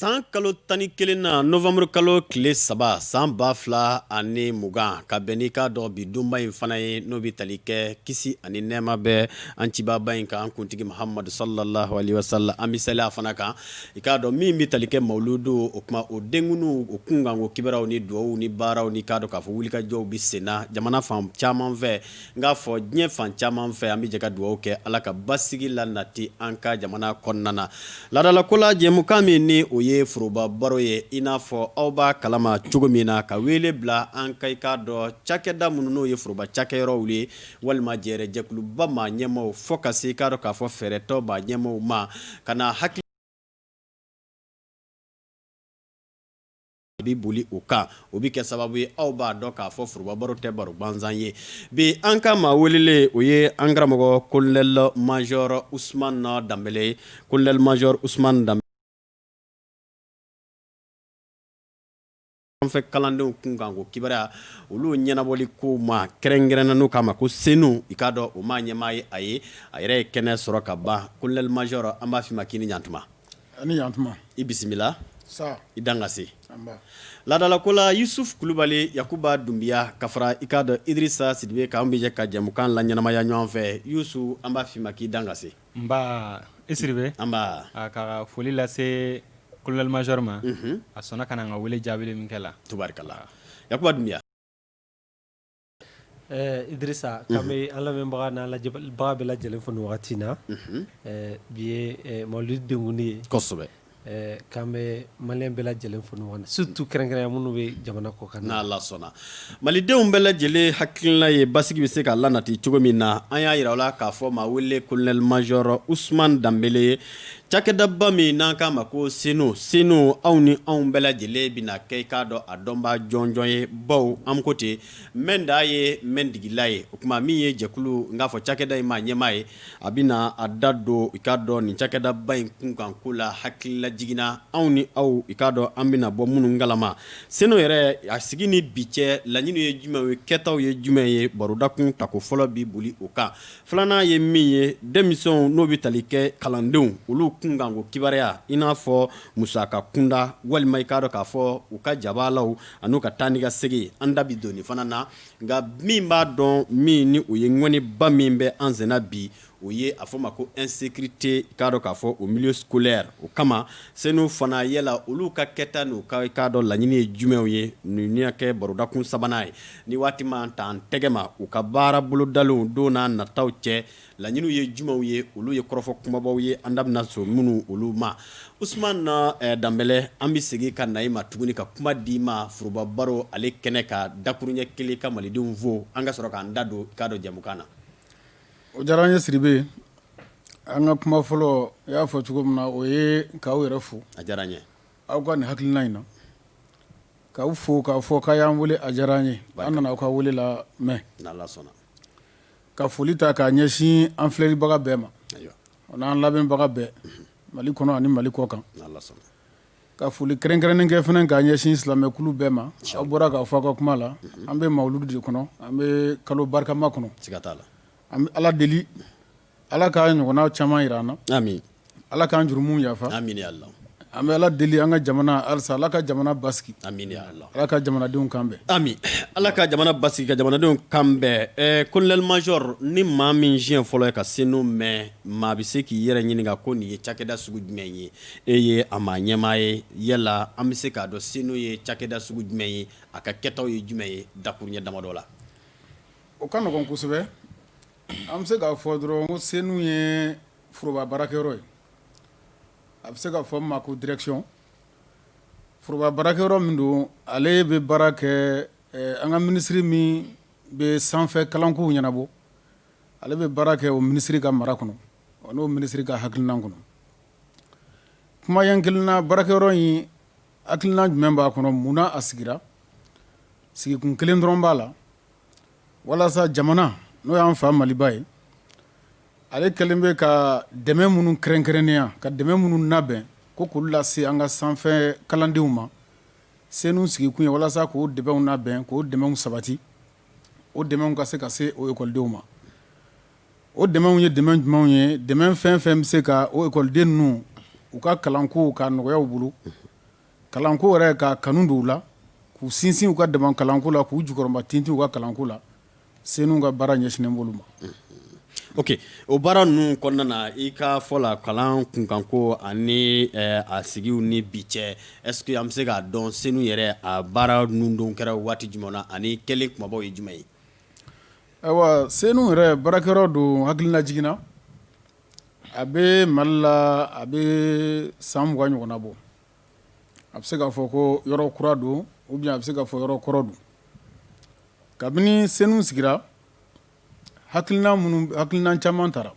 San kalo tan ni kelen na nowanburu kalo tile saba san ba fila ani mugan ka bɛn n'i k'a dɔn bi donba in fana ye n'o bɛ tali kɛ kisi ani nɛɛma bɛ an cibaba in kan an kuntigi Mahamadu salalahu alayihi wasalam an bɛ sali a fana kan i k'a dɔn min bɛ tali kɛ mawuludu o tuma o denkundi o kunkan ko kibaruyaw ni dugawuw ni baaraw ni i k'a dɔn k'a fɔ wulikajɔw bɛ senna jamana fan caman fɛ N k'a fɔ diɲɛ fan caman fɛ an bɛ jɛ ka dugawu kɛ ala ka basigi lanati an ka jamana kɔnɔna na laadala ko la jɛmukan min ni o ye foroba baro ye i n'a fɔ aw b'a kalama cogo min na ka wele bila an ka i k'a dɔn cakɛda minnu n'o ye foroba cakɛyɔrɔw ye walima jɛrɛjɛkuluba maa ɲɛmaaw fo ka se i k'a dɔn k'a fɔ fɛɛrɛtɔn maa ɲɛmaaw ma ka na hakili A bɛ boli o kan o bɛ kɛ sababu ye aw b'a dɔn k'a fɔ foroba baro tɛ baro gansan ye bi an ka maa welelen o ye an karamɔgɔ colonel major Usumani Danbɛlɛ ye colonel major Usumani Danbɛlɛ an fɛ kalandenw kunkanko kibaruya olu ɲɛnabɔli ko ma kɛrɛnkɛrɛnna n'u k'a ma ko CENOU i k'a dɔn o maa ɲɛmaa ye a ye a yɛrɛ ye kɛnɛ sɔrɔ ka ban colonel major an b'a f'i ma k'i ni ɲantuma A ni ɲantuma. I bisimila. Saha. I dan ka se. Nba. Laadala ko la, Yusuf Kulubali Yakuba Dunbiya ka fara i k'a dɔn Idirisa Sidibe kan, an bɛ jɛ ka jɛmukan laɲɛnamaya ɲɔgɔn fɛ. Yusuf an b'a f'i ma k'i dan ka se. Nba, i Sidibe. Nba. Aa ka foli lase colonel major ma. Unhun. A sɔnna ka na an ka wele jaabili min kɛ la. Tubarikala. Yakuba Dunbiya. Idirisa k'an bɛ an lamɛnbaga n'an lajɛbaga bɛɛ lajɛlen fo nin wagati na bi ye mawuludu denkundi ye kosɛbɛ k'an bɛ maliyɛn bɛɛ lajɛlen fo nin wagati surtout kɛrɛnkɛrɛnya minnu bɛ jamana kɔ kan n'Ala sɔnna malidenw bɛɛ lajɛlen hakilila ye basigi bɛ se ka lanati cogo min na an y'a jira aw la k'a fɔ maa wele colonel major Usumani Danbɛlɛ ye Cakɛdaba min n'an k'a ma ko CENOU CENOU aw ni anw bɛɛ lajɛlen bɛna kɛ i k'a dɔn a dɔnbaa jɔnjɔn ye baw an ko ten mɛn da ye mɛntigila ye o tuma min ye jɛkulu n k'a fɔ cakɛda in maa ɲɛmaa ye a bɛna a da don i k'a dɔn nin cakɛdaba in kunkan ko la hakili lajigin na anw ni aw i k'a dɔn an bɛna bɔ minnu kalama CENOU yɛrɛ a sigi ni bi cɛ laɲini ye jumɛn ye kɛtaw ye jumɛn ye barodakun tako fɔlɔ bɛ boli o kan Filanan ye min ye denmisɛnw n'o bɛ tali kɛ kalandenw olu kunkanko kibaruya i n'a fɔ musaka kunda walima i k'a dɔn k'a fɔ u ka jabaalaw an'u ka taa ni ka segin an da bɛ don nin fana na nka min b'a dɔn min ni o ye ŋɔniba min bɛ an senna bi o ye a fɔ ma ko insécurité i k'a dɔn k'a fɔ au milieu scolaire o kama CENOU fana yala olu ka kɛta n'u ka i k'a dɔn laɲini ye jumɛnw ye ninnu y'a kɛ barodakun sabanan ye Ni waati ma ta an tɛgɛma u ka baara bolodalenw don n'a nataw cɛ laɲiniw ye jumɛnw ye olu ye kɔrɔfɔ kumabaw ye an da bɛna so minnu olu ma usman danbɛlɛ an bɛ segin ka na i ma tuguni ka kuma d'i ma foroba baro ale kɛnɛ ka dakurunɲɛ kelen ka malidenw fo an ka sɔrɔ k'an da don i k'a dɔn jɛmukan na O diyara an ye Sidibe an ka kuma fɔlɔ i y'a fɔ cogo min na o ye k'aw yɛrɛ fo a diyara n ye Aw ka nin hakilina in na k'aw fo k'a fɔ k'a y'an wele a diyara an ye an nana aw ka wele lamɛn ka foli ta k'a ɲɛsin an filɛlibaga bɛɛ ma an'an lamɛnbaga bɛɛ mali kɔnɔ ani mali kɔkan ka foli kɛrɛnkɛrɛnnen kɛ fana k'a ɲɛsin silamɛkulu bɛɛ ma aw bɔra k'a fɔ aw ka kuma la an bɛ mawuludu de kɔnɔ an bɛ kalo barikama kɔnɔ an bɛ ala deli Ala k'a ɲɔgɔnna caaman jira an na amin ala k'an jurumu yafa amin ya ala an bɛ ala deli an ka jamana halisa ala ka jamana basigi amin ala ka jamanadenw kan bɛn amin ala ka jamana basigi ka jamanadenw kan bɛn kolonɛli mazɔri ni maa min siɲɛ fɔlɔ ye ka senu mɛn maa bɛ se k'i yɛrɛ ɲininka ko nin ye cakɛda sugu jumɛn ye e ye a maa ɲɛmaa ye yala an bɛ se k'a dɔn senu ye cakɛda sugu jumɛn ye a ka kɛtaw ye jumɛn ye dakurunɲɛ damadɔ la o ka nɔgɔn kosɛbɛ An bɛ se k'a fɔ dɔrɔn ko senu ye foroba baarakɛyɔrɔ ye a bɛ se ka fɔ a ma ko dirɛkisiyɔn foroba baarakɛyɔrɔ min don ale bɛ baara kɛ an ka minisiri min bɛ sanfɛ kalankow ɲɛnabɔ ale bɛ baara kɛ o minisiri ka mara kɔnɔ n'o minisiri ka hakilina kɔnɔ kuma ɲɛ kelen na baarakɛyɔrɔ in hakilina jumɛn b'a kɔnɔ mun na a sigira sigikun kelen dɔrɔn b'a la walasa jamana n'o y'an fa maliba ye ale kɛlen bɛ ka dɛmɛ minnu kɛrɛnkɛrɛnnenya ka dɛmɛ minnu labɛn ko k'olu lase an ka sanfɛ kalandenw ma senu sigikun ye walasa k'o dɛmɛw labɛn k'o dɛmɛw sabati o dɛmɛw ka se ka se o ekɔlidenw ma o dɛmɛw ye dɛmɛ jumɛnw ye dɛmɛ fɛn fɛn bɛ se ka o ekɔliden ninnu u ka kalanko ka nɔgɔya u bolo kalanko yɛrɛ ka kanu don u la k'u sinsin u ka dama kalanko la k'u jukɔrɔmatintin u ka kalanko la senu ka baara ɲɛsinnen b'olu ma oke o baara ninnu kɔnɔna na i ka fɔ la kalan kunkanko ani a sigi ni bi cɛ ɛsike an bɛ se k'a dɔn senu yɛrɛ a baara ninnu don kɛra waati jumɛn na ani kɛlen kumabaw ye jumɛn ye ayiwa senu yɛrɛ baarakɛyɔrɔ don hakililajigin na A bɛ Mali la a bɛ san mugan ɲɔgɔnna bɔ a bɛ se k'a fɔ ko yɔrɔ kura don ou bien a bɛ se k'a fɔ yɔrɔ kɔrɔ don kabini CENOU sigira hakilina minnu hakilina caman tara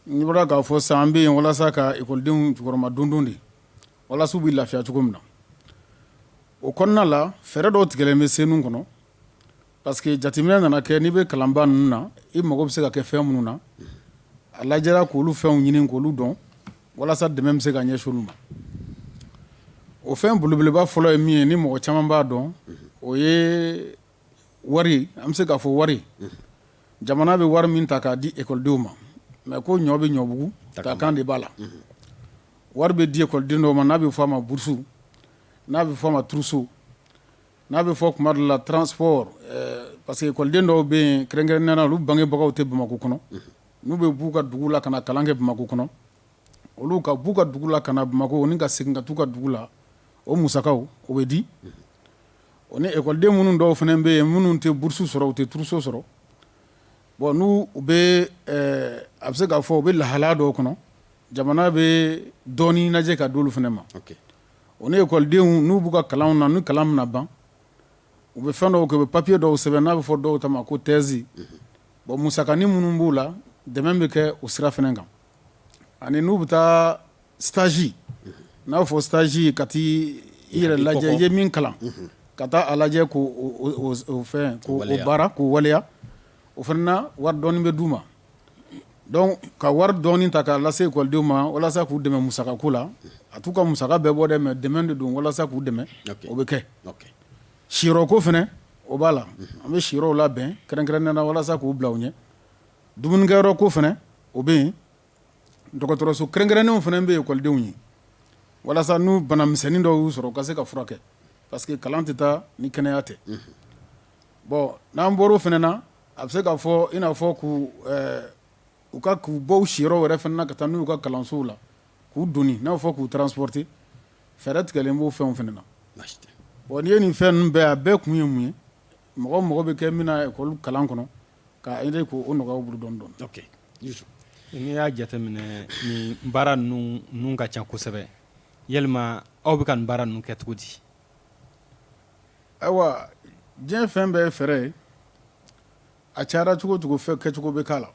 n bɔra k'a fɔ san an bɛ yen walasa ka ekɔlidenw jukɔrɔmadondon de walasa u bɛ lafiya cogo min na o kɔnɔna la fɛɛrɛ dɔw tigɛlen bɛ CENOU kɔnɔ Parce que jateminɛ nana kɛ n'i bɛ kalanba ninnu na i mago bɛ se ka kɛ fɛn minnu na a lajɛra k'olu fɛnw ɲini k'olu dɔn walasa dɛmɛ bɛ se ka ɲɛsin olu ma o fɛn belebeleba fɔlɔ ye min ye ni mɔgɔ caman b'a dɔn o ye wari an bɛ se k'a fɔ wari jamana bɛ wari min ta k'a di ekɔlidenw ma mais ko ɲɔ bɛ ɲɔbugu ta kan de b'a la wari bɛ di ekɔliden dɔw ma n'a bɛ fɔ a ma bourse n'a bɛ fɔ a ma trousseau n'a bɛ fɔ tuma dɔ la transport parce que ekɔliden dɔw bɛ yen kɛrɛnkɛrɛnnenya la olu bangebagaw tɛ Bamakɔ kɔnɔ, unhun, n'u bɛ b'u ka dugu la ka na kalan kɛ Bamakɔ kɔnɔ, olu ka b'u ka dugu la ka na Bamakɔ ni ka segin ka t'u ka dugu la o musakaw o bɛ di, unhun, o ni ekɔliden minnu dɔw fana bɛ yen minnu tɛ bourse sɔrɔ u tɛ trousseau sɔrɔ bon n'u u bɛ ɛ a bɛ se k'a fɔ u bɛ lahalaya dɔw kɔnɔ jamana bɛ dɔɔnin lajɛ ka d'olu fana ma, ok o ni ekɔlidenw n'u b'u ka kalanw na ni kalan bɛna ban u bɛ fɛn dɔw kɛ u bɛ papiye dɔw sɛbɛn n'a bɛ fɔ dɔw ta ma ko thèse bon musakanin minnu b'u la dɛmɛ bɛ kɛ o sira fana kan ani n'u bɛ taa stage n'a bɛ fɔ stage ka taa i yɛrɛ lajɛ i ye min kalan ka taa a lajɛ k'o fɛn k'o baara k'o waleya o fana na wari dɔɔnin bɛ d'u ma Donc ka wari dɔɔni ta k'a lase ekɔlidenw ma walasa k'u dɛmɛ musakako la a t'u ka musaka bɛɛ bɔ dɛ mais dɛmɛ de don walasa k'u dɛmɛ o bɛ kɛ siyɔrɔko fana o b'a la an bɛ siyɔrɔw labɛn kɛrɛnkɛrɛnnenya la walasa k'u bila u ɲɛ dumunikɛyɔrɔko fana o bɛ yen dɔgɔtɔrɔso kɛrɛnkɛrɛnnenw fana bɛ ekɔlidenw ye walasa n'u banamisɛnnin dɔw y'u sɔrɔ u ka se ka furakɛ parce que kalan tɛ taa ni kɛnɛya tɛ bon n'an bɔra o fana na a bɛ se k'a fɔ i n'a fɔ k'u ka k'u bɔ u siyɔrɔ wɛrɛ fana ka taa n'u y'u ka kalansow la k'u doni n'a bɛ fɔ k'u transporter fɛɛrɛ tigɛlen b'o fɛnw fana na bon n'i ye nin fɛn ninnu bɛɛ a bɛɛ kun ye mun ye mɔgɔ mago bɛ kɛ min na ekɔli kalan kɔnɔ k'a aider k'o nɔgɔya u bolo dɔɔnin dɔɔnin n'i y'a jateminɛ nin baara ninnu ka ca kosɛbɛ yalima aw bɛ ka nin baara ninnu kɛ cogo di Ayiwa diɲɛ fɛn bɛɛ ye fɛɛrɛ ye a cayara cogo o cogo fɛn kɛcogo bɛ k'a la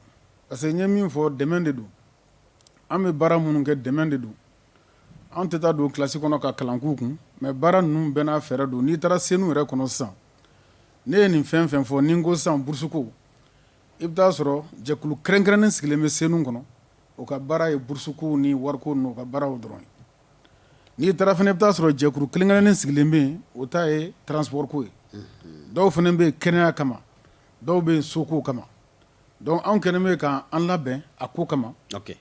parce que n ye min fɔ dɛmɛ de don an bɛ baara minnu kɛ dɛmɛ de don an tɛ taa don kilasi kɔnɔ ka kalan k'u kun mais baara ninnu bɛɛ n'a fɛɛrɛ don n'i taara senu yɛrɛ kɔnɔ sisan ne ye nin fɛn fɛn fɔ ni n ko sisan burusuko i bɛ taa a sɔrɔ jɛkulu kɛrɛnkɛrɛnnen sigilen bɛ senu kɔnɔ o ka baara ye burusuko ni wariko ninnu o ka baaraw dɔrɔn ye n'i taara fana i bɛ taa a sɔrɔ jɛkulu kɛrɛnkɛrɛnnen sigilen bɛ yen o ta ye transport ko ye dɔw fana bɛ yen kɛnɛya kama dɔw bɛ yen soko kama donc anw kɛlen bɛ k'an labɛn a ko kama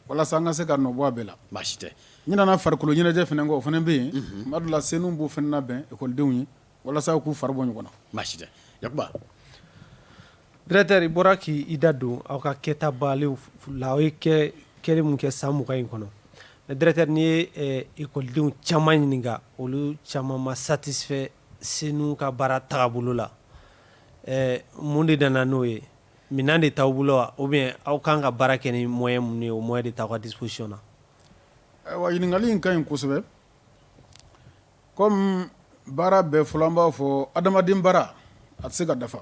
walasa an ka se ka nɔbɔ a bɛɛ la baasi tɛ n nana farikolo ɲɛnajɛ fana kɔ o fana bɛ yen tuma dɔ la senu b'o fana labɛn ekɔlidenw ye walasa u k'u fari bɔ ɲɔgɔn na baasi tɛ directeur i bɔra k'i da don aw ka kɛta baaraw la aw ye kɛlɛ min kɛ san mugan in kɔnɔ directeur n'i ye ekɔlidenw caman ɲininka olu caman ma satisfait senu ka baara tagabolo la ɛ mun de nana n'o ye minɛn de t'aw bolo wa ou bien aw kan ka baara kɛ ni moyen minnu ye o moyen de t'aw ka disposition na ayiwa ɲininkali in ka ɲi kosɛbɛ Kɔmi baara bɛɛ fɔlɔ an b'a fɔ adamaden baara a tɛ se ka dafa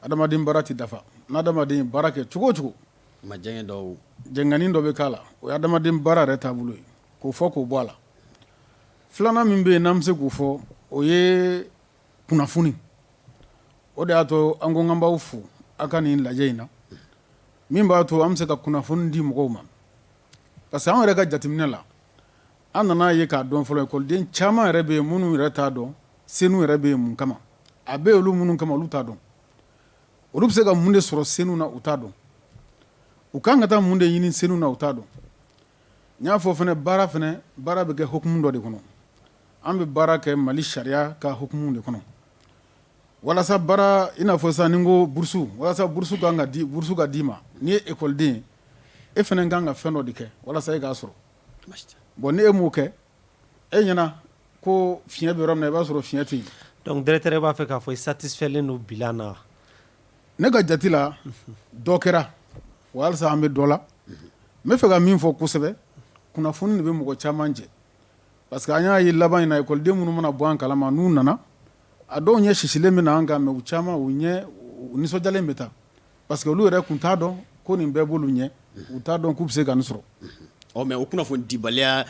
adama baara tɛ dafa ni adamaden ye baara kɛ cogo o cogo jɛngɛni dɔ bɛ k'a la o ye adamaden baara yɛrɛ taabolo ye k'o fɔ k'o bɔ a la filanan min bɛ yen n'an bɛ se k'o fɔ o ye kunnafoni o de y'a to an ko k'an b'aw fo aw ka nin lajɛ in na min b'a to an bɛ se ka kunnafoni di mɔgɔw ma parce que an yɛrɛ ka jateminɛ la An nana ye k'a dɔn fɔlɔ ekɔliden caman yɛrɛ bɛ yen minnu yɛrɛ t'a dɔn senu yɛrɛ bɛ yen mun kama a bɛ olu minnu kama olu t'a dɔn olu bɛ se ka mun de sɔrɔ senu na u t'a dɔn u ka kan ka taa mun de ɲini senu na u t'a dɔn n y'a fɔ fana baara fana baara bɛ kɛ hukumu dɔ de kɔnɔ an bɛ baara kɛ mali sariya ka hukumu de kɔnɔ walasa baara i n'a fɔ sisan ni n ko burusu walasa burusu ka d'i ma n'i ye ekɔliden ye e fana ka kan ka fɛn dɔ de kɛ walasa i k'a sɔrɔ Bon ni e m'o kɛ e ɲɛna ko fiɲɛ bɛ yɔrɔ min na i b'a sɔrɔ fiɲɛ tɛ yen donc directeur i b'a fɛ k'a fɔ i satisfaitlen don bilan na wa ne ka jate la dɔ kɛra wa halisa an bɛ dɔ la n b'a fɛ ka min fɔ kosɛbɛ kunnafoni de bɛ mɔgɔ caman jɛ parce que an y'a ye laban in na ekɔliden minnu mana bɔ an kala ma n'u nana a dɔw ɲɛ sisilen bɛ na an kan mais u caman u nisɔndiyalen bɛ taa parce que olu yɛrɛ tun t'a dɔn ko nin bɛɛ b'olu ɲɛ u t'a dɔn k'u bɛ se ka nin sɔrɔ ɔ mais o kunnafoni dibaliya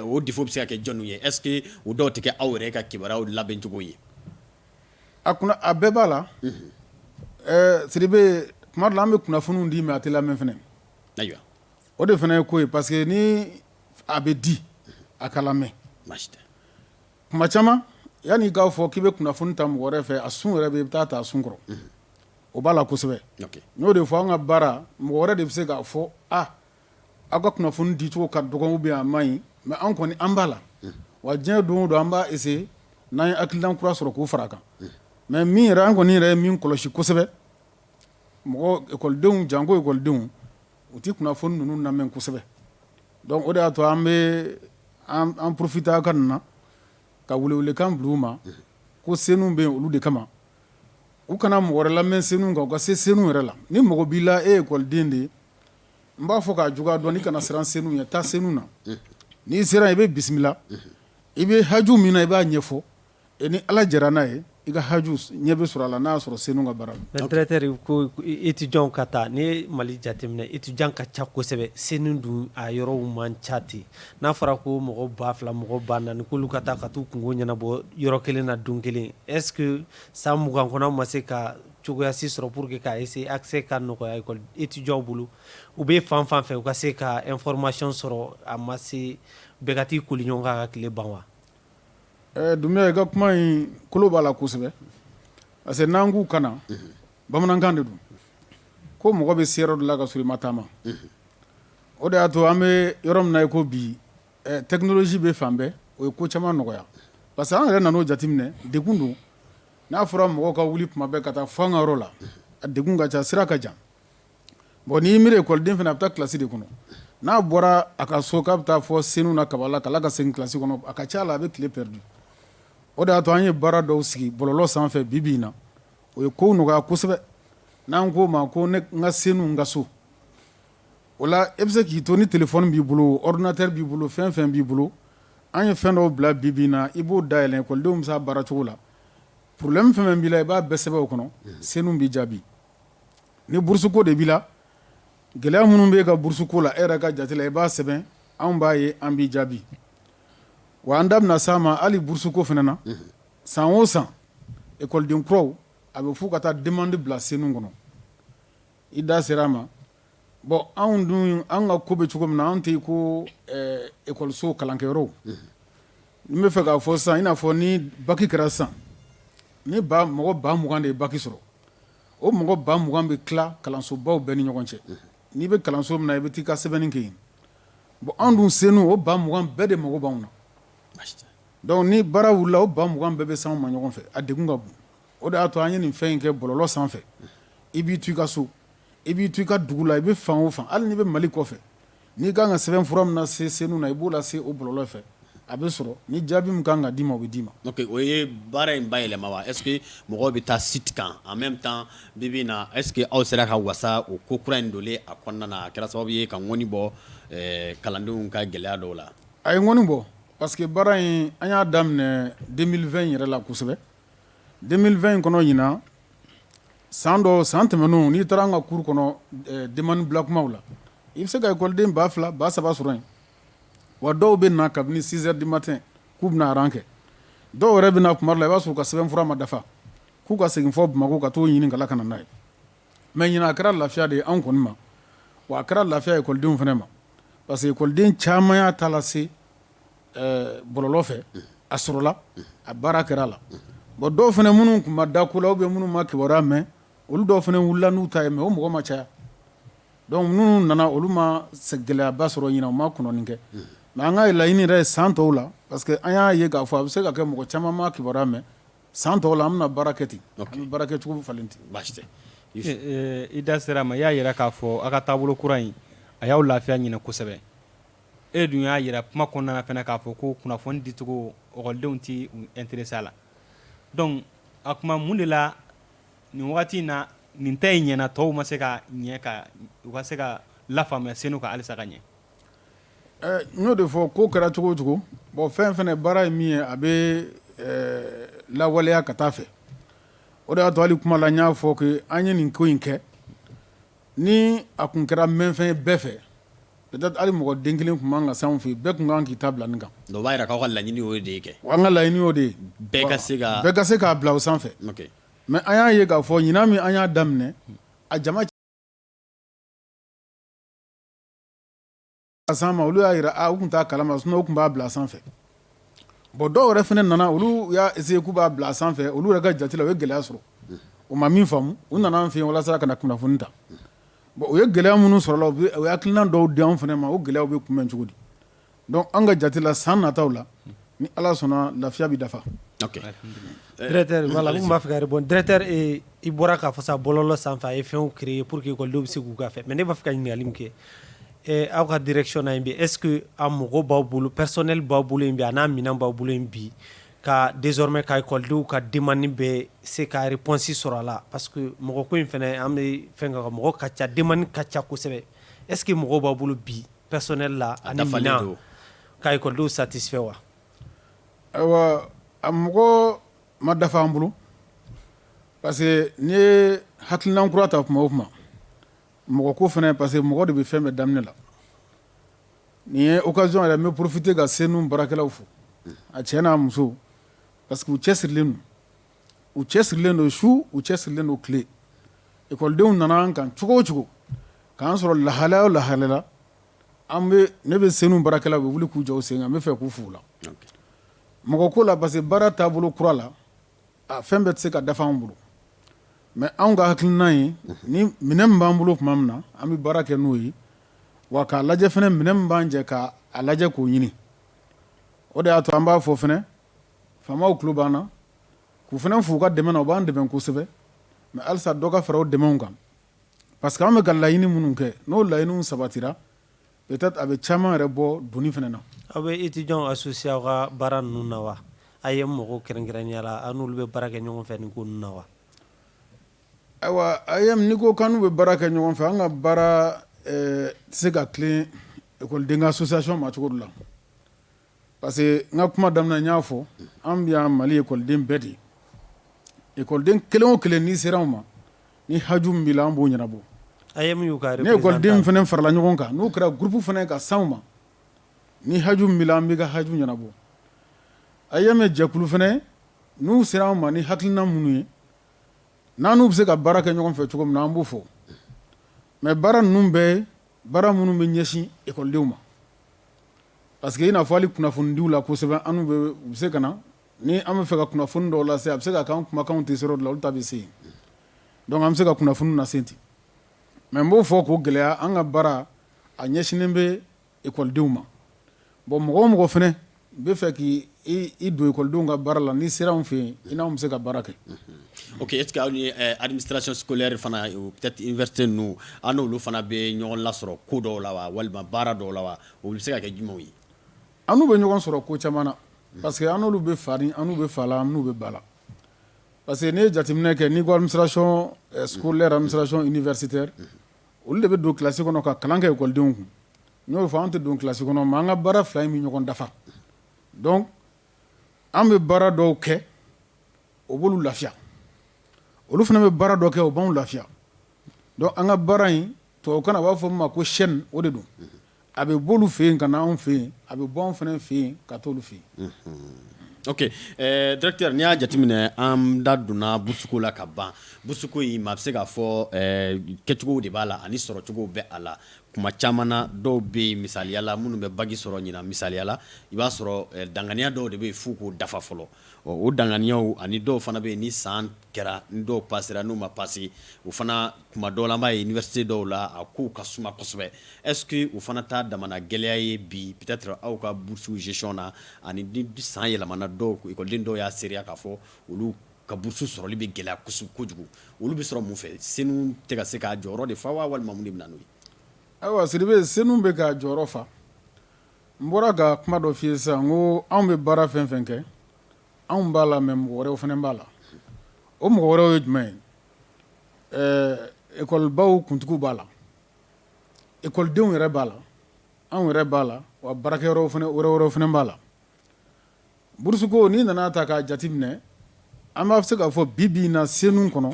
o défaut bɛ se ka kɛ jɔn ye est-ce que o dɔw tɛ kɛ aw yɛrɛ ka kibaruyaw labɛncogo ye a a bɛɛ b'a la Sidibe tuma dɔ la an bɛ kunnafoniw di mais a tɛ lamɛn fana ayiwa o de fana ye ko ye parce que ni a bɛ di a ka lamɛn tuma caman yanni i k'a fɔ k'i bɛ kunnafoni ta mɔgɔ wɛrɛ fɛ a sun yɛrɛ bɛ i bɛ taa ta a sun kɔrɔ o b'a la kosɛbɛ n y'o de fɔ an ka baara mɔgɔ wɛrɛ de bɛ se k'a fɔ a aw ka kunnafoni dicogo ka dɔgɔn ou bien a man ɲi mais an kɔni an b'a la wa diɲɛ don o don an b'a essayer n'an ye hakilina kura sɔrɔ k'o fara a kan mais min yɛrɛ an kɔni yɛrɛ ye min kɔlɔsi kosɛbɛ mɔgɔ ekɔlidenw janko ekɔlidenw u tɛ kunnafoni ninnu lamɛn kosɛbɛ donc o de y'a to an bɛ an profiter ka na ka welewelekan bila u ma ko senu bɛ olu de kama U kana mɔgɔ wɛrɛ lamɛn senu kan u ka se senu yɛrɛ la ni mɔgɔ b'i la e ye ekɔliden de ye n b'a fɔ k'a juguya dɔn i kana siran senu ɲɛ taa senu na n'i sera i bɛ bisimila i bɛ haju min na i b'a ɲɛfɔ i ni ala jɛra n'a ye i ka haju ɲɛ bɛ sɔrɔ a la n'a sɔrɔ senu ka baara directeur ko étudiant ka taa ni mali jateminɛ étudiant ka ca kosɛbɛ senu dun a yɔrɔw man ca ten n'a fɔra ko mɔgɔ ba fila mɔgɔ ba naani k'olu ka taa ka taa u kungo ɲɛnabɔ yɔrɔ kelen na don kelen est-ce que san mugan kɔnɔ aw ma se ka cogoya si sɔrɔ pour que k'a essayer accès ka nɔgɔya école étudiantw bolo u bɛ fan fan fɛ u ka se ka information sɔrɔ a ma se bɛɛ ka t'i koli ɲɔgɔn kan ka tile ban wa Dunbiya i ka kuma in kolo b'a la kosɛbɛ parce que n'an k'u ka bamanankan de don ko mɔgɔ bɛ se yɔrɔ la ka sɔrɔ i ma taama o de y'a to an bɛ yɔrɔ min na i ko bi technologie bɛ fan bɛɛ o ye ko caman nɔgɔya parce que an yɛrɛ nan'o jateminɛ degun don n'a fɔra mɔgɔw ka wuli tuma bɛɛ ka taa fɔ an ka yɔrɔ la a degun ka ca sira ka jan bon n'i miiri ekɔliden fana a bɛ taa kilasi de kɔnɔ n'a bɔra a ka so k'a bɛ taa fɔ senu na Kabala ka ka segin kilasi kɔnɔ a ka ca la a bɛ tile perdu o de y'a to an ye baara dɔw sigi bɔlɔlɔ sanfɛ bi bi in na o ye kow nɔgɔya kosɛbɛ n'an k'o ma ko n ka senu n ka so o la e bɛ se k'i to ni telefɔni b'i bolo ordinateur b'i bolo fɛn fɛn b'i bolo an ye fɛn dɔw bila bi bi in na i b'o dayɛlɛn ekɔlidenw bɛ se a baara cogo la problème fɛn b'i la i b'a bɛɛ sɛbɛn o kɔnɔ senu b'i jaabi ni burusuko de b'i la gɛlɛya minnu bɛ e ka burusuko la e yɛrɛ ka jate la i b'a sɛbɛn anw b'a ye an b'i jaabi wa an da bɛna s'a ma hali burusuko fana na san o san ekɔliden kuraw a bɛ f'u ka taa demande bila senu kɔnɔ i da sera a ma bon anw dun an ka ko bɛ cogo min na anw tɛ ko ekɔliso kalankɛyɔrɔw n bɛ fɛ k'a fɔ sisan i n'a fɔ ni baki kɛra sisan ni mɔgɔ ba mugan de ye baki sɔrɔ o mɔgɔ ba mugan bɛ tila kalansobaw bɛɛ ni ɲɔgɔn cɛ n'i bɛ kalanso min na i bɛ taa i ka sɛbɛnni kɛ yen bon anw dun senu o ba mugan bɛɛ de mago b'anw na Donc ni baara wulila o ba mugan bɛɛ bɛ s'an ma ɲɔgɔn fɛ a degun ka bon o de y'a to an ye nin fɛn in kɛ bɔlɔlɔ sanfɛ i b'i to i ka so i b'i to i ka dugu la i bɛ fan o fan hali n'i bɛ Mali kɔfɛ n'i ka kan ka sɛbɛn fura min na se senu na i b'o lase o bɔlɔlɔ fɛ a bɛ sɔrɔ ni jaabi min kan ka d'i ma o bɛ d'i ma o ye baara in bayɛlɛma wa est ce que mɔgɔw bɛ taa site kan en même temps bi bi na est ce que aw sera ka wasa o ko kura in donlen a kɔnɔna na a kɛra sababu ye ka ŋɔni bɔ kalandenw ka gɛlɛya dɔw la a ye ŋɔni bɔ Parce que baara in an y'a daminɛ 2020 yɛrɛ la kosɛbɛ 2020 kɔnɔ ɲinan san dɔ san tɛmɛnenw n'i taara an ka cours kɔnɔ ɛ demande bila kumaw la i bɛ se ka ekɔliden 2000 3000 sɔrɔ yen wa dɔw bɛ na kabini 6 heures du matin k'u bɛna rang kɛ dɔw yɛrɛ bɛ na tuma dɔ la i b'a sɔrɔ u ka sɛbɛnfura ma dafa k'u ka segin fɔ Bamako ka t'o ɲini ka na ka na n'a ye. Mais ɲinan a kɛra lafiya de ye anw kɔni ma wa a kɛra lafiya ye ekɔlidenw fana ma parce que ekɔliden caman y'a ta lase bɔlɔlɔ fɛ a sɔrɔla a baara kɛra a la bon dɔw fana minnu tun ma da ko la ou bien minnu ma kibaruya mɛn olu dɔw fana wulila n'u ta ye mais o mɔgɔ ma caya donc minnu nana olu ma gɛlɛyaba sɔrɔ ɲinan u ma kɔnɔni kɛ mais an ka laɲini yɛrɛ ye san tɔw la parce que an y'a ye k'a fɔ a bɛ se ka kɛ mɔgɔ caman ma kibaruya mɛn San tɔw la an bɛna baara kɛ ten baara kɛ cogo falen ten baasi tɛ i da sera a ma i y'a jira k'a fɔ aw ka taabolo kura in a y'aw lafiya ɲinan kosɛbɛ e dun y'a jira kuma kɔnɔna fana k'a fɔ ko kunnafoni dicogo ekɔlidenw t'u intéresser a la donc a kuma mun de la nin wagati in na nin ta in ɲɛna tɔw ma se ka ɲɛ ka u ka se ka lafaamuya senu ka halisa ka ɲɛ N y'o de fɔ ko kɛra cogo o cogo bon fɛn fana baara ye min ye a bɛ lawaleya ka taa a fɛ o de y'a to hali kuma la n y'a fɔ que an ye nin ko in kɛ ni a tun kɛra mɛnfɛn ye bɛɛ fɛ peut-être hali mɔgɔ den kelen tun man kan ka s'an fɛ bɛɛ tun kan k'i ta bila nin kan o b'a jira k'aw ka laɲini y'o de ye kɛ an ka laɲini y'o de ye bɛɛ ka se k'a bila o sanfɛ mais an y'a ye k'a fɔ ɲinan min an y'a daminɛ a A s'an ma olu y'a jira u tun t'a kalama sinon u tun b'a bila sanfɛ bon dɔw yɛrɛ fana nana olu y'a essayer k'u b'a bila sanfɛ olu yɛrɛ ka jate la u ye gɛlɛya sɔrɔ u ma min faamu u nana an fɛ yen walasa ka na kunnafoni ta bon u ye gɛlɛya minnu sɔrɔ la u ye hakilina dɔw di an fana ma o gɛlɛyaw bɛ kunbɛn cogo di Donc an ka jate la san nataw la ni ala sɔnna lafiya bɛ dafa b'a fɛ ka répondre directeur i bɔra k'a fɔ sa bɔlɔlɔ sanfɛ a ye fɛnw créer pour que ekɔlidenw bɛ se k'u ka fɛ mais ne b'a fɛ ka ɲininkali min kɛ aw ka direction na yen bi est ce que a mɔgɔ b'aw bolo personnel b'aw bolo yen bi a n'a minɛn b'aw bolo yen bi ka désormais ka ekɔlidenw ka demande bɛ se ka réponse sɔrɔ a la parce que mɔgɔ ko in fana an bɛ fɛn mɔgɔ ka ca demande ka ca kosɛbɛ est ce que mɔgɔ b'aw bolo bi Personnel la a dafa ka ekɔlidenw satisfait wa ayiwa a mɔgɔ ma dafa an bolo parce que n'i ye hakilina kura ta kuma o kuma mɔgɔ ko fana parce que mɔgɔ de bɛ fɛn bɛɛ daminɛ la nin ye occasion yɛrɛ n bɛ profiter ka CENOU baarakɛlaw fo a cɛ n'a muso parce que u cɛ sirilen don u cɛ sirilen don su u cɛ sirilen don tile ekɔlidenw nana an kan cogo o cogo k'an sɔrɔ lahala o lahala la ne bɛ CENOU baarakɛlaw bɛ wuli k'u jɔ u sen kan n bɛ fɛ k'u fo o la mɔgɔ ko la parce que baara taabolo kura la a fɛn bɛɛ tɛ se ka dafa anw bolo mais anw ka hakilina ye ni minɛn min b'an bolo tuma min na an bɛ baara kɛ n'o ye wa k'a lajɛ fana minɛn min b'an jɛ k'a lajɛ k'o ɲini o de y'a to an b'a fɔ fana Faamaw tulo b'an na k'u fana fo u ka dɛmɛ na u b'an dɛmɛ kosɛbɛ mais halisa dɔ ka fara o dɛmɛw kan parce que an bɛ ka laɲini minnu kɛ n'o laɲiniw sabatira peut être a bɛ caman yɛrɛ bɔ doni fana na. Aw bɛ étudiants associer aw ka baara ninnu na wa? AEEM mɔgɔw kɛrɛnkɛrɛnnenya la aw n'olu bɛ baara kɛ ɲɔgɔn fɛ nin ko ninnu na wa? Ayiwa AEEM n'i ko k'an n'u bɛ baara kɛ ɲɔgɔn fɛ an ka baara tɛ se ka tilen ekɔliden ka association ma cogo dɔ la Parce que n ka kuma daminɛ n y'a fɔ an bɛ yan mali ekɔliden bɛɛ de ye ekɔliden kelen o kelen n'i sera anw ma ni haju min b'i la an b'o ɲɛnabɔ a ye ni ekɔliden fana farala ɲɔgɔn kan n'o kɛra groupe fana ka s'an ma ni haju min b'i la an b'i ka haju ɲɛnabɔ AEEM jɛkulu fana n'u sera anw ma ni hakilina minnu ye n'an n'u bɛ se ka baara kɛ ɲɔgɔn fɛ cogo min na an b'o fɔ mais baara ninnu bɛɛ baara minnu bɛ ɲɛsin ekɔlidenw ma Parce que i n'a fɔ hali kunnafonidiw la kosɛbɛ an n'u bɛ u bɛ se ka na ni an bɛ fɛ ka kunnafoni dɔw lase a bɛ se ka kɛ an kumakanw tɛ se yɔrɔ dɔ la olu ta bɛ se yen donc an bɛ se ka kunnafoni lase ten mais n b'o fɔ k'o gɛlɛya an ka baara a ɲɛsinnen bɛ ekɔlidenw ma bon mɔgɔ o mɔgɔ fana bɛ fɛ k'i i don ekɔlidenw ka baara la n'i sera anw fɛ yen i n'anw bɛ se ka baara kɛ ok est ce que aw ni administration scolaire fana peut être université ninnu aw n'olu fana bɛ ɲɔgɔn lasɔrɔ ko dɔw la wa walima baara dɔw la wa O bɛ se ka kɛ jumɛnw ye an n'u bɛ ɲɔgɔn sɔrɔ ko caman na parce que an n'olu bɛ fa ni an n'u bɛ fa la an n'u bɛ ba la parce que n'i ye jateminɛ kɛ n'i ko administration scolaire administration universitaire olu de bɛ don kilasi kɔnɔ ka kalan kɛ ekɔlidenw kun n y'o fɔ an tɛ don kilasi kɔnɔ mais an ka baara fila in bɛ ɲɔgɔn dafa donc an bɛ baara dɔw kɛ o b'olu lafiya olu fana bɛ baara dɔw kɛ o b'an lafiya donc an ka baara in tubabukan na a b'a fɔ min ma ko chaîne o de don a bɛ b'olu fɛ yen ka na anw fɛ yen a bɛ bɔ anw fana fɛ yen ka t'olu fɛ yen oke directeur n'i y'a jateminɛ an da donna burusuko la ka ban burusuko in maa bɛ se k'a fɔ kɛcogow de b'a la ani sɔrɔcogow bɛ a la kuma caman na dɔw bɛ yen misaliya la minnu bɛ baki sɔrɔ ɲinan misaliya la i b'a sɔrɔ danganiya dɔw de bɛ yen f'u k'o dafa fɔlɔ ɔ o danganiyaw ani dɔw fana bɛ yen ni san kɛra ni dɔw pasera n'u ma pase o fana kuma dɔw la an b'a ye université dɔw la a kow ka suma kosɛbɛ est ce que o fana t'a damana gɛlɛya ye bi peut être aw ka bourse gestion na ani ni san yɛlɛmana dɔw écoleden dɔw y'a seereya k'a fɔ olu ka bourse sɔrɔli bɛ gɛlɛya kosɛbɛ kojugu olu bɛ sɔrɔ mun fɛ senu tɛ ka se k'a jɔyɔrɔ de fa wa walima mun de bɛ na n'o ye ayiwa Sidibe senu bɛ k'a jɔyɔrɔ fa n bɔra ka kuma dɔ f'i ye sisan n ko anw bɛ baara fɛn o fɛn kɛ anw b'a la mais mɔgɔ wɛrɛw fana b'a la o mɔgɔ wɛrɛw ye jumɛn ye ɛɛ école baw kuntigiw b'a la école denw yɛrɛ b'a la anw yɛrɛ b'a la wa baarakɛyɔrɔ wɛrɛw fana b'a la. Burusuko n'i nan'a ta k'a jateminɛ an b'a f se k'a fɔ bi-bi in na Senu kɔnɔ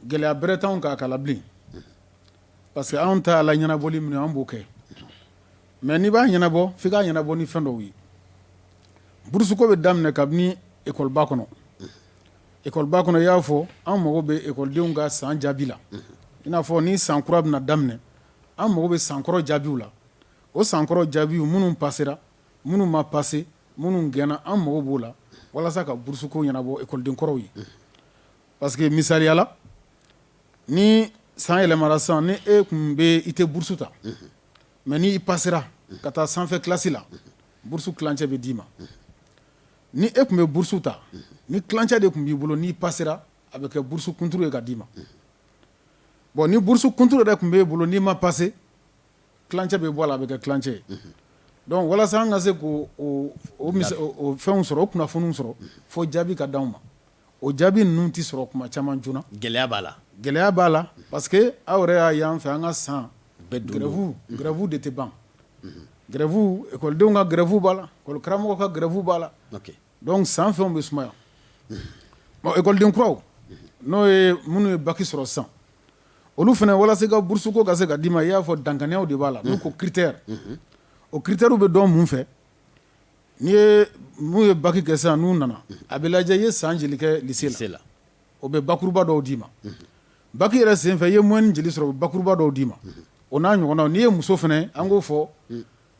gɛlɛya bɛrɛ t'anw kan a ko la bilen unhun parce que anw ta la ɲɛnabɔli min ye anw b'o kɛ unhun mais n'i b'a ɲɛnabɔ f'i k'a ɲɛnabɔ ni fɛn dɔw ye burusuko bɛ daminɛ kabini école ba kɔnɔ unhun école ba kɔnɔ i y'a fɔ anw mago bɛ école denw ka san jaabi la unhun i n'a fɔ ni san kura bɛna daminɛ an mago bɛ san kɔrɔ jaabiw la o san kɔrɔ jaabiw minnu pasera minnu ma pase minnu gɛnna an mago b'o la walasa ka burusuko ɲɛnabɔ ekɔliden kɔrɔw ye parce que misaliya la ni san yɛlɛmara sisan ni e tun bɛ i tɛ burusu ta mais n' i pasera ka taa sanfɛ kilasi la burusu tilancɛ bɛ d'i ma ni e tun bɛ burusu ta ni tilancɛ de tun b'i bolo n'i pasera a bɛ kɛ burusu kunturu ye ka d'i ma bon ni burusu kunturu de tun b'e bolo n'i ma pase tilancɛ bɛ bɔ a la a bɛ kɛ tilancɛ ye donc walasa an ka se k'o fɛnw sɔrɔ o kunnafoniw sɔrɔ fo jaabi ka di anw ma o jaabi ninnu tɛ sɔrɔ kuma caman joona gɛlɛya b'a la gɛlɛya b'a la parce que aw yɛrɛ y'a y'an fɛ an ka san gɛrɛfu gɛrɛfu de tɛ ban gɛrɛfu ekɔlidenw ka gɛrɛfu b'a la ekɔli karamɔgɔ ka gɛrɛfu b'a la Dɔnku san fɛnw bɛ sumaya ekɔliden kuraw n'o ye minnu ye baki sɔrɔ sisan olu fana walasa i ka burusuko ka se ka d'i ma i y'a fɔ dankanyaw de b'a la n'u ko critère o critèrew bɛ dɔn mun fɛ n'i ye minnu ye baki kɛ sisan n'u nana a bɛ lajɛ i ye san jeli kɛ lycée la o bɛ bakuruba dɔw d'i ma baki yɛrɛ senfɛ i ye moyenne jeli sɔrɔ o bɛ bakuruba dɔw d'i ma o n'a ɲɔgɔnna n'i ye muso fana an k'o fɔ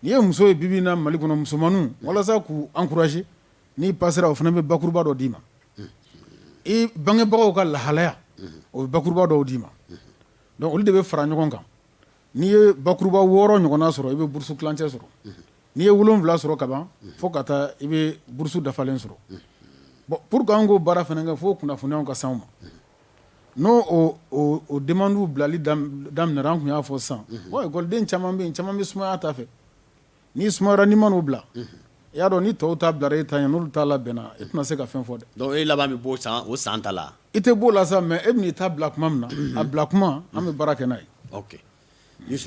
N'i ye muso ye bibi in na Mali kɔnɔ musomanninw walasa k'u encourager n'i pasera o fana bɛ bakuruba dɔ d'i ma i bangebagaw ka lahalaya o bɛ bakuruba dɔw d'i ma dɔnku olu de bɛ fara ɲɔgɔn kan n'i ye bakuruba wɔɔrɔ ɲɔgɔnna sɔrɔ i bɛ burusu kilancɛ sɔrɔ n'i ye wolon wolonwula sɔrɔ kaban fo ka taa i bɛ burusu dafalen sɔrɔ bon pour que an k'o baara fana kɛ fo o kunnafoniyaw ka s'anw ma N'o demandew bilali daminɛra an tun y'a fɔ sisan ekɔliden caman bɛ yen caman bɛ sumaya ta fɛ n'i sumayara n'i ma n'o bila i y'a dɔn ni tɔw ta bilara e ta ɲɛ n'olu ta labɛnna e tɛna se ka fɛn fɔ dɛ e laban bɛ bɔ o san ta la i tɛ b'o la sa mɛ e bɛn'i ta bila tuma min na a bila kuma an bɛ baara kɛ n'a ye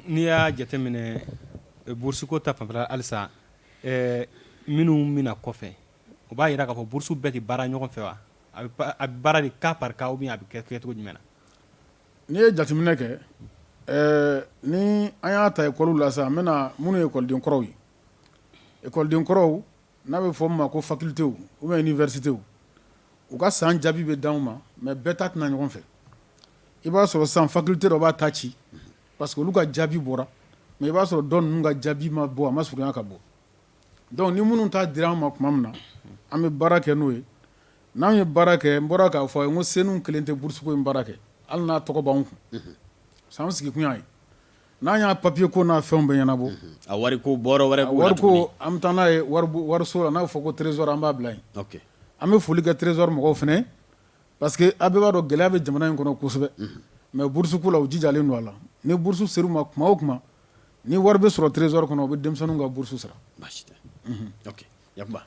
n'i y'a jateminɛ burusuko ta fanfɛ halisa minnu bɛ na kɔfɛ o b'a jira k'a fɔ burusu bɛɛ tɛ baara ɲɔgɔn fɛ wa a bɛ pa- a bɛ baara de cas par cas ou bien a bɛ kɛ cogo jumɛn na n'i ye jateminɛ kɛ ɛɛ ni an y'a ta ekɔliw la sisan n bɛna minnu ye ekɔliden kɔrɔw ye ekɔliden kɔrɔw n'a bɛ fɔ min ma ko facultés ou bien universités u ka san jaabi bɛ d'anw ma mais bɛɛ ta tɛ na ɲɔgɔn fɛ i b'a sɔrɔ sisan faculté dɔ b'a ta ci parce que olu ka jaabi bɔra mais i b'a sɔrɔ dɔ ninnu ka jaabi ma bɔ a ma surunya ka bɔ Dɔnku ni minnu ta dira an ma tuma min na an bɛ baara kɛ n'o ye n'an ye baara kɛ n bɔra k'a fɔ a ye ko CENOU kelen tɛ burusuko in baara kɛ hali n'a tɔgɔ b'an kun sa an sigi kun y'a ye n'an y'a papiye ko n'a fɛnw bɛɛ ɲɛnabɔ a wariko wɛrɛ b'o la wariko an bɛ taa n'a ye wariso la n'a bɛ fɔ ko trésor an b'a bila yen an bɛ foli kɛ trésor mɔgɔw fana parce que a bɛɛ b'a dɔn gɛlɛya bɛ jamana in kɔnɔ kosɛbɛ mɛ burusuko la u jijalen don a la ni burusu ser'u ma tuma o tuma Ni wari bɛ sɔrɔ trésor kɔnɔ u bɛ denmisɛnninw ka bourse sara baasi tɛ unhun ok Yakuba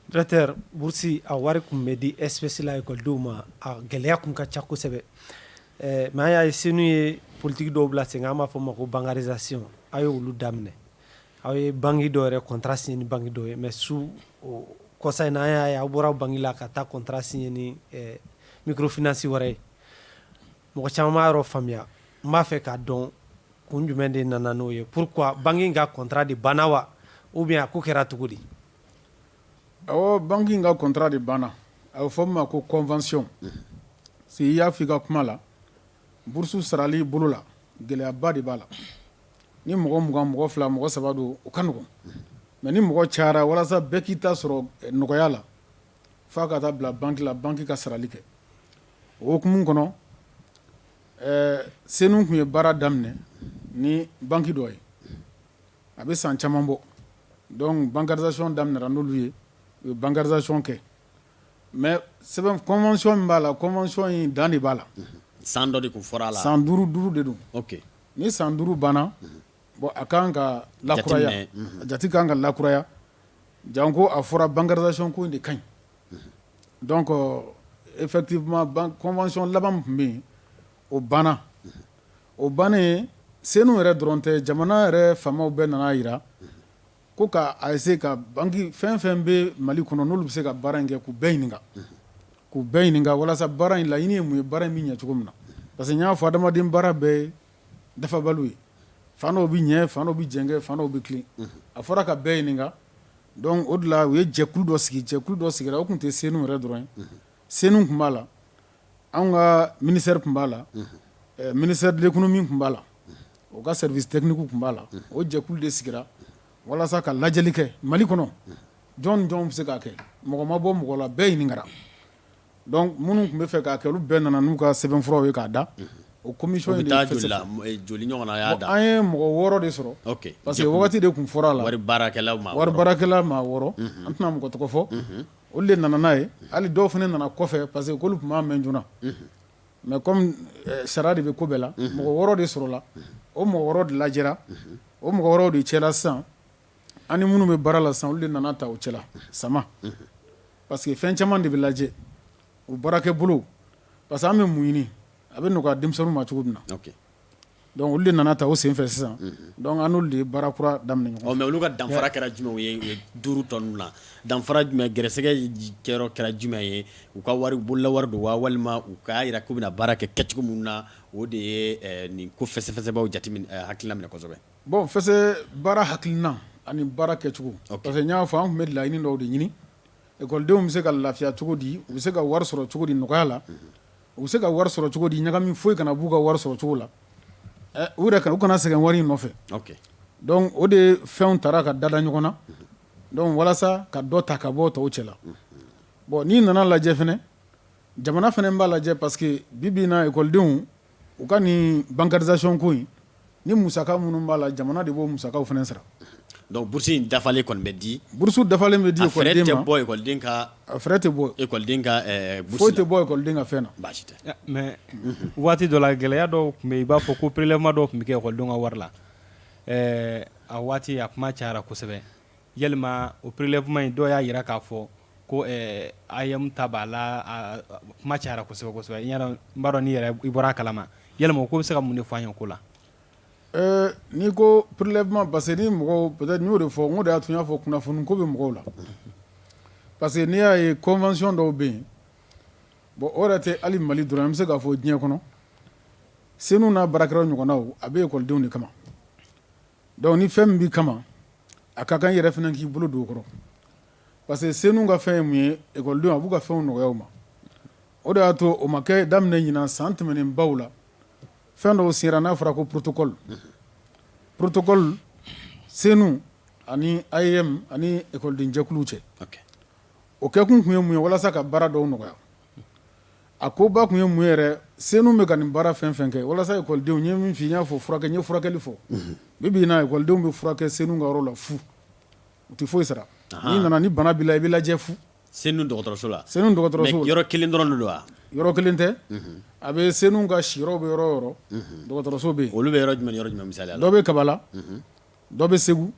Directeur bourse a wari tun bɛ di espèces la écoledenw ma a gɛlɛya tun ka ca kosɛbɛ ɛɛ mais an y'a ye CENOU ye politique dɔw bila sen kan an b'a fɔ o ma ko bancarisation a' ye olu daminɛ aw ye banque dɔ yɛrɛ contrat signer ni banque dɔ ye mais su o kɔsa in na an y'a ye aw bɔra banque la ka taa contrat signer ni ɛɛ microfinance wɛrɛ ye mɔgɔ caman b'a yɔrɔ faamuya n b'a fɛ k'a dɔn kun jumɛn de nana n'o ye pourquoi banque in ka contrat de banna wa ou bien a ko kɛra cogo di awɔ banque in ka contrat de banna a bɛ fɔ min ma ko convention si i y'a fɔ i ka kuma la burusu sarali bolo la gɛlɛyaba de b'a la ni mɔgɔ mugan mɔgɔ fila mɔgɔ saba don o ka nɔgɔn mais ni mɔgɔ cayara walasa bɛɛ k'i ta sɔrɔ nɔgɔya la fo a ka taa bila banque la banque ka sarali kɛ o hukumu kɔnɔ CENOU tun ye baara daminɛ ni banque dɔ ye a bɛ san caman bɔ donc bancarisation daminɛra n'olu ye u ye bancarisation kɛ mais sɛbɛn convention min b'a la convention in dan de b'a la san dɔ de tun fɔra a la san duuru duuru de don ni san duuru banna bon a ka kan ka la a jati ka kan ka lakuraya janko a fɔra bancarisation ko in de ka ɲi Donc effectivement convention laban min tun bɛ yen o banna o bannen CENOU yɛrɛ dɔrɔn tɛ jamana yɛrɛ faamaw bɛɛ nana a jira ko ka essayer ka banque fɛn fɛn bɛ mali kɔnɔ n'olu bɛ se ka baara in kɛ k'u bɛɛ ɲininka k'u bɛɛ ɲininka walasa baara in laɲini ye mun ye baara in bɛ ɲɛ cogo min na parce que y'a fɔ adamaden baara bɛɛ ye dafabaliw ye fan dɔw bɛ ɲɛ fan dɔw bɛ jɛngɛ fan dɔw bɛ tilen a fɔra ka bɛɛ ɲininka Donc o de la u ye jɛkulu dɔ sigi jɛkulu dɔ sigira o tun tɛ CENOU yɛrɛ dɔrɔn ye CENOU tun b'a la an ka ministère tun b'a la ministère de l'économie tun b'a la o ka service technique tun b'a la o jɛkulu de sigira walasa ka lajɛli kɛ mali kɔnɔ jɔn jɔn bɛ se k'a kɛ mɔgɔ ma bɔ mɔgɔ la bɛɛ ɲininkara Donc minnu tun bɛ fɛ k'a kɛ olu bɛɛ nana n'u ka sɛbɛnfuraw ye k'a da, unhun, o commission in de fɛsɛfɛsɛ, u bɛ taa joli la joli ɲɔgɔnna y'a da, an ye mɔgɔ wɔɔrɔ de sɔrɔ, ok, parce que waati de tun fɔra a la, wari baarakɛla maa wɔɔrɔ, wari baarakɛla maa wɔɔrɔ, unhun, an tɛna mɔgɔ tɔgɔ fɔ, unhun, olu de nana n'a ye hali dɔw fana nana kɔfɛ parce que k'olu tun m'a mɛn joona, unhun, mais comme sariya de bɛ ko bɛɛ la, unhun, mɔgɔ wɔɔrɔ de sɔrɔla, unhun, o mɔgɔ wɔɔrɔ de lajɛra, unhun, o mɔgɔ wɔɔrɔw de cɛla sisan An ni minnu bɛ baara la sisan olu de nana ta o cɛla SAMA parce que fɛn caman de bɛ lajɛ o baarakɛbolo parce que an bɛ mun ɲini a bɛ nɔgɔya denmisɛnninw ma cogo min na donc olu de nana ta o senfɛ sisan an n'olu de ye baara kura daminɛ ɲɔgɔn fɛ mais olu ka danfara kɛra jumɛn ye duuru tɔ ninnu na danfara jumɛn gɛrɛsɛgɛ kɛyɔrɔ kɛra jumɛn ye u ka wari bolola wari don wa walima u ka jira k'u bɛna baara kɛ kɛcogo min na o de ye nin ko fɛsɛfɛsɛbaaw jate hakili laminɛ kosɛbɛ Bon fɛ baara hakilina ani baara kɛcogo parce que n y'a fɔ an tun bɛ laɲini dɔw de ɲini ekɔlidenw bɛ se ka lafiya cogo di u bɛ se ka wari sɔrɔ cogo di nɔgɔya la u bɛ se ka wari sɔrɔ cogo di ɲagami foyi kana b'u ka wari sɔrɔ cogo la u yɛrɛ ka u kana sɛgɛn wari in nɔfɛ o de fɛnw taara ka dala ɲɔgɔn na donc walasa ka dɔ ta ka bɔ tɔw cɛ la bon n'i nana lajɛ fɛnɛ jamana fɛnɛ b'a lajɛ parce que bi bi in na ekɔlidenw u ka nin bancarisation ko in ni musaka minnu b'a la jamana de b'o musakaw fɛnɛ sara donc bourse in dafalen kɔni bɛ di bourse dafalen bɛ di ekɔliden ma frais tɛ bɔ ekɔliden ka frais tɛ bɔ ekɔliden ka foyi tɛ bɔ ekɔliden ka fɛn na baasi tɛ mais waati dɔ la gɛlɛya dɔw tun bɛ i b'a fɔ ko prélèvement dɔw tun bɛ kɛ ekɔlidenw ka wari la a waati a kuma cayara kosɛbɛ yalima o prélèvement in dɔw y'a jira k'a fɔ ko AEM ta b'a la a kuma cayara kosɛbɛ kosɛbɛ n b'a dɔn i yɛrɛ i bɔra a kalama yalima o ko bɛ se ka mun de fɔ an ye ko la ɛɛ n'i ko prélèvement parce que ni mɔgɔw peut-être n y'o de fɔ n ko de y'a to n y'a fɔ kunnafoni ko bɛ mɔgɔw la parce que n'i y'a ye convention dɔw bɛ yen bon o yɛrɛ tɛ hali Mali dɔrɔn an bɛ se k'a fɔ diɲɛ kɔnɔ senu n'a baarakɛda ɲɔgɔnnaw a bɛ ekɔlidenw de kama donc ni fɛn min b'i kama a ka kan i yɛrɛ fana k'i bolo don o kɔrɔ parce que senu ka fɛn ye mun ye école denw a b'u ka fɛnw nɔgɔya u ma o de y'a to o ma kɛ daminɛ ɲinan san tɛmɛnen baw la fɛn dɔw sigira n'a fɔra ko protocole protocole senu ani AEM ani école den jɛkuluw cɛ ok o kɛkun tun ye mun ye walasa ka baara dɔw nɔgɔya a koba tun ye mun ye yɛrɛ senu bɛ ka nin baara fɛn fɛn kɛ walasa école denw n ye min f'i ye n y'a fɔ furakɛ n ye furakɛli fɔ bi bi in na école denw bɛ furakɛ senu ka yɔrɔ la fu U tɛ foyi sara n'i nana ni bana b'i la i bɛ lajɛ fu senu dɔgɔtɔrɔso la senu dɔgɔtɔrɔso yɔrɔ kelen dɔrɔn don wa yɔrɔ kelen tɛ a bɛ senu ka siyɔrɔw bɛ yɔrɔ o yɔrɔ dɔgɔtɔrɔso bɛ yen olu bɛ yɔrɔ jumɛn yɔrɔ jumɛn la dɔ bɛ Kabala dɔ bɛ Segu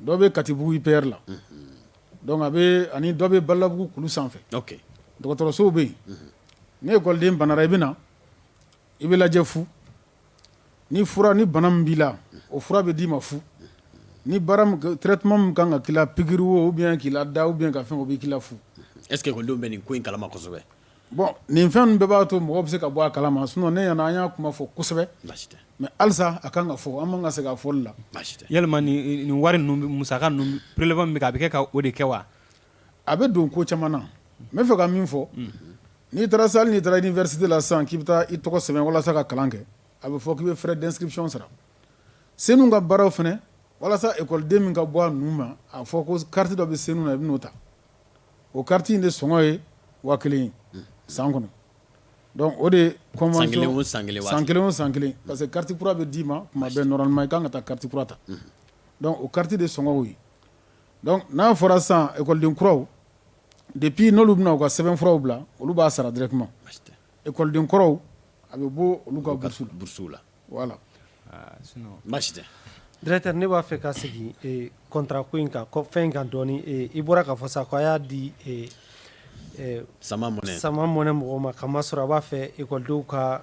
dɔ bɛ Katibugu IPR la donc a bɛ ani dɔ bɛ Badalabugu kulu sanfɛ dɔgɔtɔrɔsow bɛ yen ni ekɔliden banara i bɛ na i bɛ lajɛ fu ni fura ni bana min b'i la o fura bɛ d'i ma fu ni traitement min ka kan ka k'i la pikiri ou bien k'i lada ou bien ka fɛn o bɛ k'i la fu est-ce que ekɔlidenw bɛ nin ko in kalama kosɛbɛ bon nin fɛn ninnu bɛɛ b'a to mɔgɔ bɛ se ka bɔ a kalama sinon ne ɲɛna an y'a kuma fɔ kosɛbɛ mais halisa a ka kan ka fɔ an man kan ka sɛgɛn a fɔli la yalima nin wari ninnu musaka ninnu prélèvement min bɛ kɛ a bɛ kɛ ka o de kɛ wa A bɛ don ko caman na n bɛ fɛ ka min fɔ n'i taara sa n'i taara université la sisan k'i bɛ taa i tɔgɔ sɛbɛn walasa ka kalan kɛ a bɛ fɔ k'i bɛ frais d'inscription sara CENOU ka baaraw fana walasa ekɔliden min ka bɔ a nu ma a fɔ ko carte dɔ bɛ CENOU na i b'o ta o carte in de sɔngɔ ye waa kelen san kɔnɔ o de kelen san kelen o san kelen parce que carte kura bɛ d'i ma tuma bɛɛ normalement i ka kan ka taa carte kura ta o carte de sɔngɔ ye Donc n'a fɔra sisan école den kuraw depuis n'olu bɛna u ka sɛbɛn furaw bila olu b'a sara directement basi tɛ école den kɔrɔw a bɛ bɔ olu ka bourse la bourse la voilà aa sinon basi tɛ Directeur ne b'a fɛ ka segin ee contrat ko in kan kɔ fɛn in kan dɔɔni ee i bɔra k'a fɔ sa ko a y'a di ee Sama Money Sama Money mɔgɔw ma k'a masɔrɔ a b'a fɛ école denw ka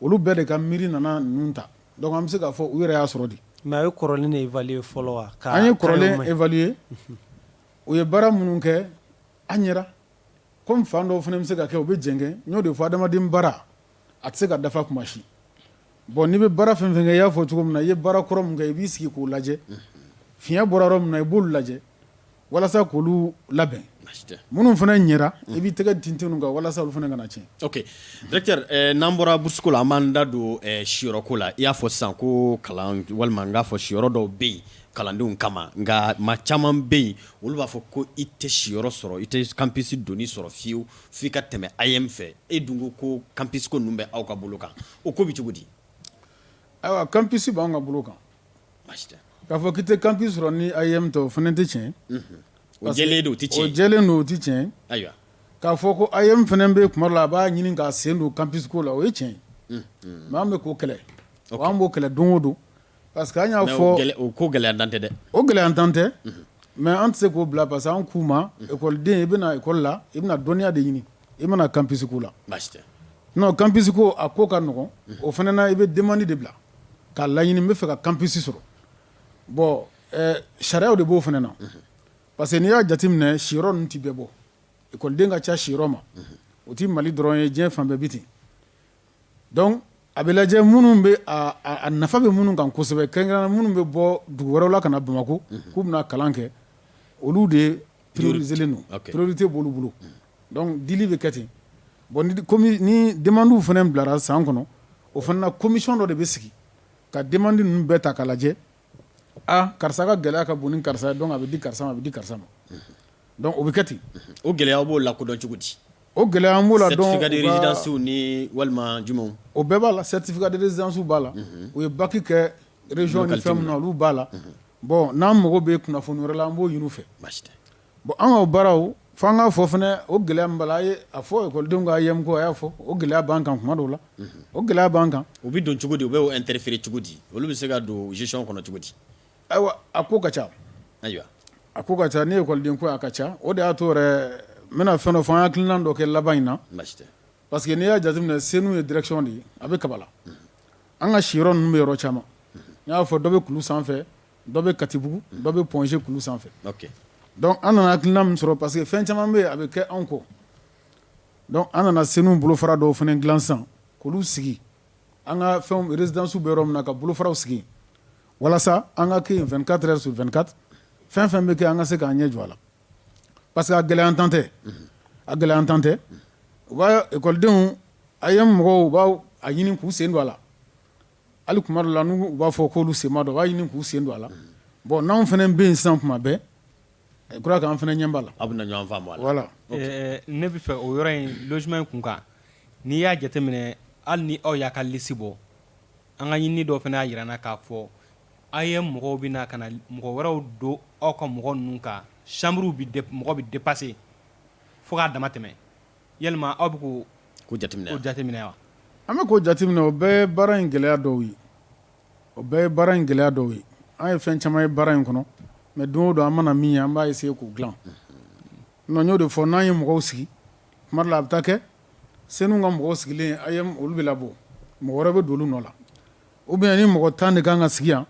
Olu bɛɛ de ka miiri nana ninnu ta donc an bɛ se k'a fɔ u yɛrɛ y'a sɔrɔ di mais a ye kɔrɔlen de évaluer fɔlɔ wa an ye kɔrɔlen évaluer u ye baara minnu kɛ a ɲɛra comme fan dɔw fana bɛ se ka kɛ u bɛ jɛngɛ n y'o de fɔ adamaden baara a tɛ se ka dafa kuma si bon n'i bɛ baara fɛn fɛn kɛ i y'a fɔ cogo min na i ye baara kɔrɔ min kɛ i b'i sigi k'o lajɛ fiɲɛ bɔra yɔrɔ min na i b'olu lajɛ walasa k'olu labɛn minnu fana ɲɛra i b'i tɛgɛ tintin u kan walasa olu fana kana tiɲɛ ok directeur n'an bɔra bourse ko la an b'an da don siyɔrɔko la i y'a fɔ sisan ko kalan walima n k'a fɔ siyɔrɔ dɔw bɛ yen kalandenw kama nka maa caman bɛ yen olu b'a fɔ ko i tɛ siyɔrɔ sɔrɔ i tɛ campus donni sɔrɔ fiyewu f'i ka tɛmɛ AEEM fɛ e dun ko campus ko ninnu bɛ aw ka bolo kan o ko bɛ cogo di ayiwa campus b'an ka bolo kan k'a fɔ k'i tɛ campus sɔrɔ ni AEEM tɛ o fana tɛ tiɲɛ o jɛlen don o tɛ tiɲɛ o jɛlen don o tɛ tiɲɛ ayiwa k'a fɔ ko AEEM fana bɛ kuma dɔ la a b'a ɲini k'a sen don campus ko la o ye tiɲɛ ye an bɛ k'o kɛlɛ an b'o kɛlɛ don o don parce que an y'a fɔ o ko gɛlɛyantan tɛ dɛ o gɛlɛyantan tɛ mais an tɛ se k'o bila parce que an k'u ma ekɔliden i bɛna ekɔli la i bɛna dɔnniya de ɲini i bɛna campus ko la non campus ko a ko ka nɔgɔn o fana na i bɛ demande de bila K'a laɲini n bɛ fɛ ka campus sɔrɔ bon sariyaw de b'o fana na parce que n'i y'a jate minɛ siyɔrɔ ninnu tɛ bɛɛ bɔ ekɔliden ka ca siyɔrɔ ma o tɛ Mali dɔrɔn ye diɲɛ fan bɛɛ bɛ ten donc a bɛ lajɛ minnu bɛ a nafa bɛ minnu kan kosɛbɛ kɛrɛnkɛrɛnnenya la minnu bɛ bɔ dugu wɛrɛw la ka na Bamakɔ k'u bɛna kalan kɛ olu de ye prioriselen don ok priorité b'olu bolo donc dili bɛ kɛ ten bon ni comi ni demandes fana bilara san kɔnɔ o fana na commission dɔ de bɛ sigi ka demande ninnu bɛɛ ta k'a lajɛ aa karisa ka gɛlɛya ka bon ni karisa ye donc a bɛ di karisa ma a bɛ di karisa ma donc o bɛ kɛ ten o gɛlɛya b'o lakodɔn cogo di o gɛlɛya an b'o la dɔn certificat de résidence ni walima jumɛnw o bɛɛ b'a la certificat de résidence b'a la u ye bac kɛ b'a la bɔn n'an mago bɛ kunnafoni wɛrɛ la an b'o ɲini u fɛ bɔn an ka o baaraw fo an k'a fɔ fana o gɛlɛya min b'a la a y'a fɔ ekɔlidenw ka AEEM ko a y'a fɔ o gɛlɛya b'an kan kuma dɔw la o gɛlɛya b'an kan o bɛ don cogo di u bɛ interférer cogo di olu bɛ se ka don gestion kɔnɔ cogo di ayiwa a ko ka ca ayiwa a ko ka ca ni ekɔliden ko a ka ca o de y'a to yɛrɛ n bɛna fɛn dɔ fɔ an hakilina dɔ kɛ laban in na Parce que n'i y'a jateminɛ Senu ye direction de ye a bɛ Kabala an ka siyɔrɔ ninnu bɛ yɔrɔ caman n y'a fɔ dɔ bɛ kulu sanfɛ dɔ bɛ Katibugu dɔ bɛ Point G kulu sanfɛ ok donc an nana hakilina min sɔrɔ parce que fɛn caman bɛ yen a bɛ kɛ anw kɔ donc an nana Senu bolofara dɔw fana dilan sisan k'olu sigi an ka fɛnw résidences bɛ yɔrɔ min na ka bolofaraw sigi yen walasa an ka kɛ yen 24 heures sur 24 fɛn o fɛn bɛ kɛ an ka se k'an ɲɛ jɔ a la. parce que a gɛlɛyantan tɛ a gɛlɛyantan tɛ u b'ekɔlidenw AEEM mɔgɔw b'a ɲini k'u sen don a la hali kuma dɔ la n'u b'a fɔ k'olu sen b'a dɔ b'a ɲini k'u sen don a la bɔn n'an fana bɛ yen sisan kuma bɛɛ je crois k'an fana ɲɛ b'a la aw bɛ ɲɔgɔn faamu a la ne bɛ fɛ o yɔrɔ in logement in kun kan n'i y'a jateminɛ hali ni aw y'a ka lisi bɔ an ka ɲini dɔ fana y'a jira n na k'a fɔ AEEM mɔgɔw bɛ na ka na mɔgɔ wɛrɛw don aw ka mɔgɔ ninnu kan chambre mɔgɔ bɛ dépasser fo k'a dama tɛmɛ yala aw bɛ k'o ko jate jateminɛ wa an bɛ k'o jateminɛ o bɛɛ baara in gɛlɛya dɔw ye o bɛɛ ye baara in gɛlɛya dɔw ye an ye fɛn caman ye baara in kɔnɔ mais don o don an mana min ye an b'a essayer k'o dilan n'o de fɔ n'an ye mɔgɔw sigi kuma dɔ la a bɛ taa kɛ Senu ka mɔgɔw sigilen AEEM olu bɛ labɔ mɔgɔ wɛrɛ bɛ don olu nɔ la Ou bien ni mɔgɔ tan de kan ka sigi yan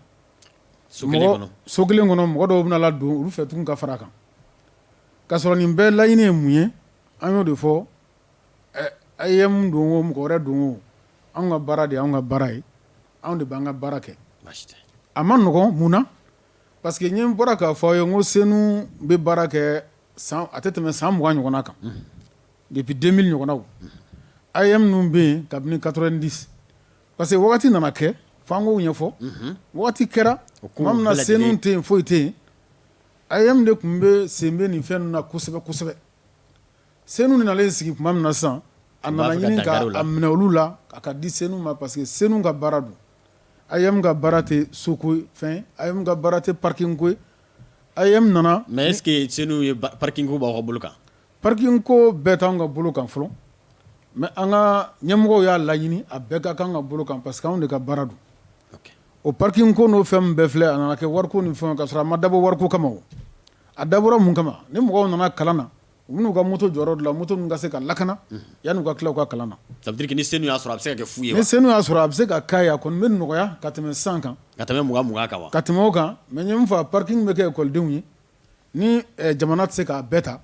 so kelen kɔnɔ mɔgɔ dɔw bɛ na don olu fɛ tugun ka fara kan ka sɔrɔ nin bɛɛ laɲini ye mun ye an y'o de fɔ AEEM don o mɔgɔ wɛrɛ don o an ka baara de y'an ka baara ye anw de b'an ka baara kɛ a ma nɔgɔn mun na parce que ne bɔra k'a fɔ aw ye n ko Senu bɛ baara kɛ sisan a tɛ tɛmɛ san mugan ɲɔgɔn kan depuis 2000 ɲɔgɔnw AEEM ninnu bɛ yen kabini 90 Parce que wagati nana kɛ f'an k'o ɲɛfɔ waati kɛra tuma min na Senu tɛ yen foyi tɛ yen AEEM de tun bɛ sen bɛ nin fɛn ninnu na kosɛbɛ kosɛbɛ Senu nalen sigi tuma min na sisan a nana ɲini k'a minɛ olu la a k'a di Senu ma parce que Senu ka baara don AEEM ka baara tɛ soko fɛn AEEM ka baara tɛ parking ko AEEM nana mais est-ce que Senu ye parking ko b'aw ka bolo kan Parking ko bɛɛ t'an ka bolo kan fɔlɔ mais an ka ɲɛmɔgɔw y'a laɲini a bɛɛ ka k'an ka bolo kan parce que anw de ka baara don o parking ko n'o fɛn bɛɛ filɛ a nana kɛ wariko ni fɛn ka sɔrɔ a ma dabɔ wariko kama a dabɔra mun kama ni mɔgɔw nana kalan na u bɛ n'u ka moto jɔ yɔrɔ la moto ka se ka lakana yann'u ka tila ka kalan na ça veut dire ni CENOU y'a sɔrɔ a bɛ se ka kɛ fu ye ni CENOU y'a sɔrɔ a bɛ se ka ka a kɔni bɛ nɔgɔya ka tɛmɛ cent kan ka tɛmɛ mugan kan ka tɛmɛ o kan mais n ye min fɔ parking bɛ kɛ ekɔlidenw ye Ni jamana tɛ se k'a bɛɛ ta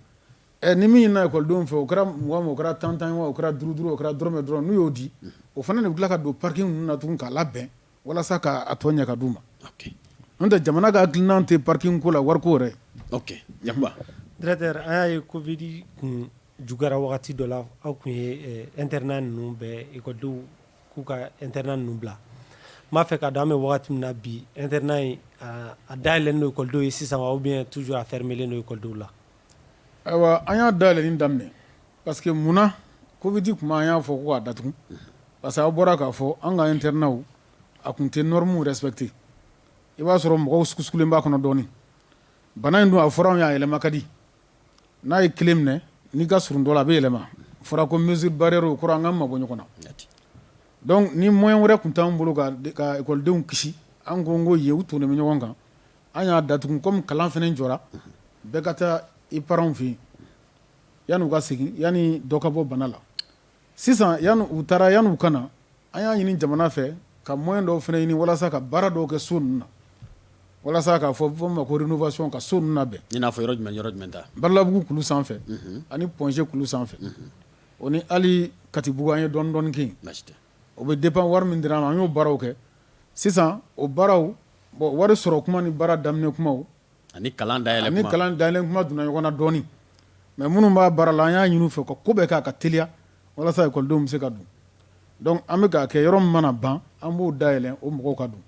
ni min ɲinina ekɔlidenw fɛ o kɛra mugan mugan o kɛra tan tan wa o kɛra duuru duuru o kɛra dɔrɔmɛ dɔrɔn n'u y'o di o fana de bɛ tila ka don parking ninnu na tugun k'a labɛn walasa k'a tɔ ɲɛ ka d'u ma n'o tɛ jamana ka hakilina tɛ parking ko la wariko yɛrɛ ayiwa directeur an y'a ye covid kun juguyara wagati dɔ la aw kun ye internat ninnu bɛɛ ekɔlidenw k'u ka internat ninnu bila n b'a fɛ k'a dɔn an bɛ waati min na bi internat in a dayɛlɛlen don ekɔlidenw ye sisan wa ou bien toujours a fermelen don ekɔlidenw la ayiwa an y'a dayɛlɛni daminɛ parce que mun na covid kuma an y'a fɔ ko k'a datugu parce que a bɔra k'a fɔ an ka internatw a tun tɛ normew respecter i b'a sɔrɔ mɔgɔw sugusugulen b'a kɔnɔ dɔɔnin bana in dun a fɔra anw y'a yɛlɛma ka di n'a ye kelen minɛ n'i ka surun dɔ la a bɛ yɛlɛma fɔra ko mesure barrière o kɔrɔ an ka mabɔ ɲɔgɔn na donc ni moyen wɛrɛ tun t'an bolo ka ekɔlidenw kisi an kun k'o ye u tonnen bɛ ɲɔgɔn kan an y'a datugu kɔmi kalan fana jɔra bɛɛ ka taa i parentw fɛ yen yann'u ka segin yanni dɔ ka bɔ bana la Sisan yanni u taara yanni u ka na an y'a ɲini jamana fɛ ka moyen dɔw fana ɲini walasa ka baara dɔw kɛ so ninnu na walasa k'a fɔ ma ko rénovation ka so ninnu labɛn i n'a fɔ jumɛn yɔrɔ jumɛn ta Badalabugu kulu sanfɛ ani Point G kulu sanfɛ o ni hali Katibugu an ye dɔɔnin dɔɔnin kɛ o bɛ dépend wari min dira an ma an y'o baaraw kɛ sisan o baaraw bon wari sɔrɔ kuma ni baara daminɛ kuma ani kalan da ni kalan dayɛlɛ kuma donna ɲɔgɔn na dɔɔnin mais minnu b'a baara la an y'a ɲini u fɛ ka ko bɛɛ k'a ka teliya walasa ekɔlidenw bɛ se ka don donc an bɛ k'a kɛ yɔrɔ min mana ban an b'o dayɛlɛn o mɔgɔw ka don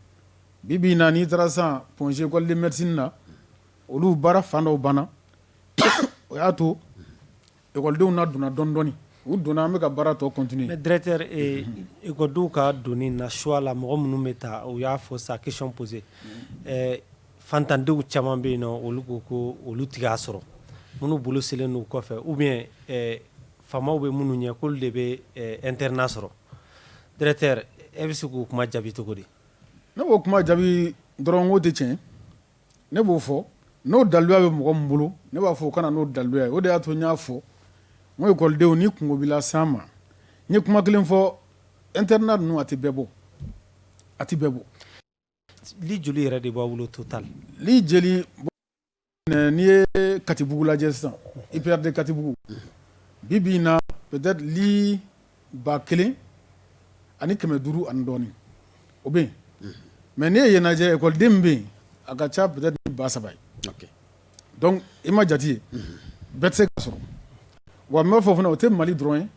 bi bi in na n'i taara san Point G école de médecine na olu baara fan dɔw banna o y'a to Ekɔlidenw na donna dɔɔnin dɔɔnin u donna an bɛka ka baara tɔ continuer mais directeur ekɔlidenw ka donni na choix la mɔgɔ minnu bɛ taa u y'a fɔ sa question posée faantandenw caman bɛ yen na olu ko ko olu tɛ k'a sɔrɔ minnu bolo selen don u kɔfɛ ou bien faamaw bɛ minnu ɲɛ k'olu de bɛ internat sɔrɔ directeur e bɛ se k'o kuma jaabi cogo di ne b'o kuma jaabi dɔrɔn ko tɛ tiɲɛ Ne b'o fɔ n'o daluya bɛ mɔgɔ min bolo ne b'a fɔ o ka na n'o daluya ye o de y'a to n y'a fɔ n ko ekɔlidenw ni kunko b'i la s'an ma n ye kuma kelen fɔ internat ninnu a tɛ bɛɛ bɔ a tɛ bɛɛ bɔ lit joli yɛrɛ de b'a bolo total lit jeli n'i ye katibugu lajɛ sisan IPR de katibugu bi bi in na Ba kelen ani kɛmɛ duuru ani dɔɔnin o bɛ yen mais n'i ye yen lajɛ ekɔliden min bɛ yen a ka ca peut-être ni ba saba ye donc i m'a jate ye bɛɛ tɛ se k'a sɔrɔ wa n b'a fɔ fana o tɛ mali dɔrɔn ye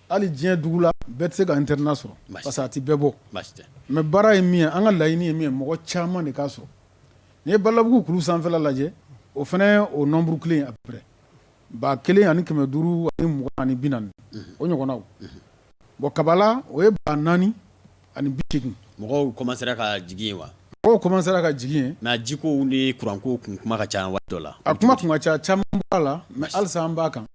hali diɲɛ dugu la bɛɛ tɛ se ka internat sɔrɔ parce que a tɛ bɛɛ bɔ mais baara ye min ye an ka laɲini ye min ye mɔgɔ caman de k'a sɔrɔ n'i ye badalabugu kulu sanfɛla lajɛ o fana o nombre kelen à peu près Ba kelen ani kɛmɛ duuru ani mugan ani bi naani o ɲɔgɔnnaw bon kabala o ye ba naani ani bi seegin mɔgɔw commencera ka jigin yen wa mɔgɔw commencera ka jigin yen mais jiko ni kuranko tun kuma ka ca waati dɔ la a kuma tun ka ca caman b'a la mais halisa an b'a kan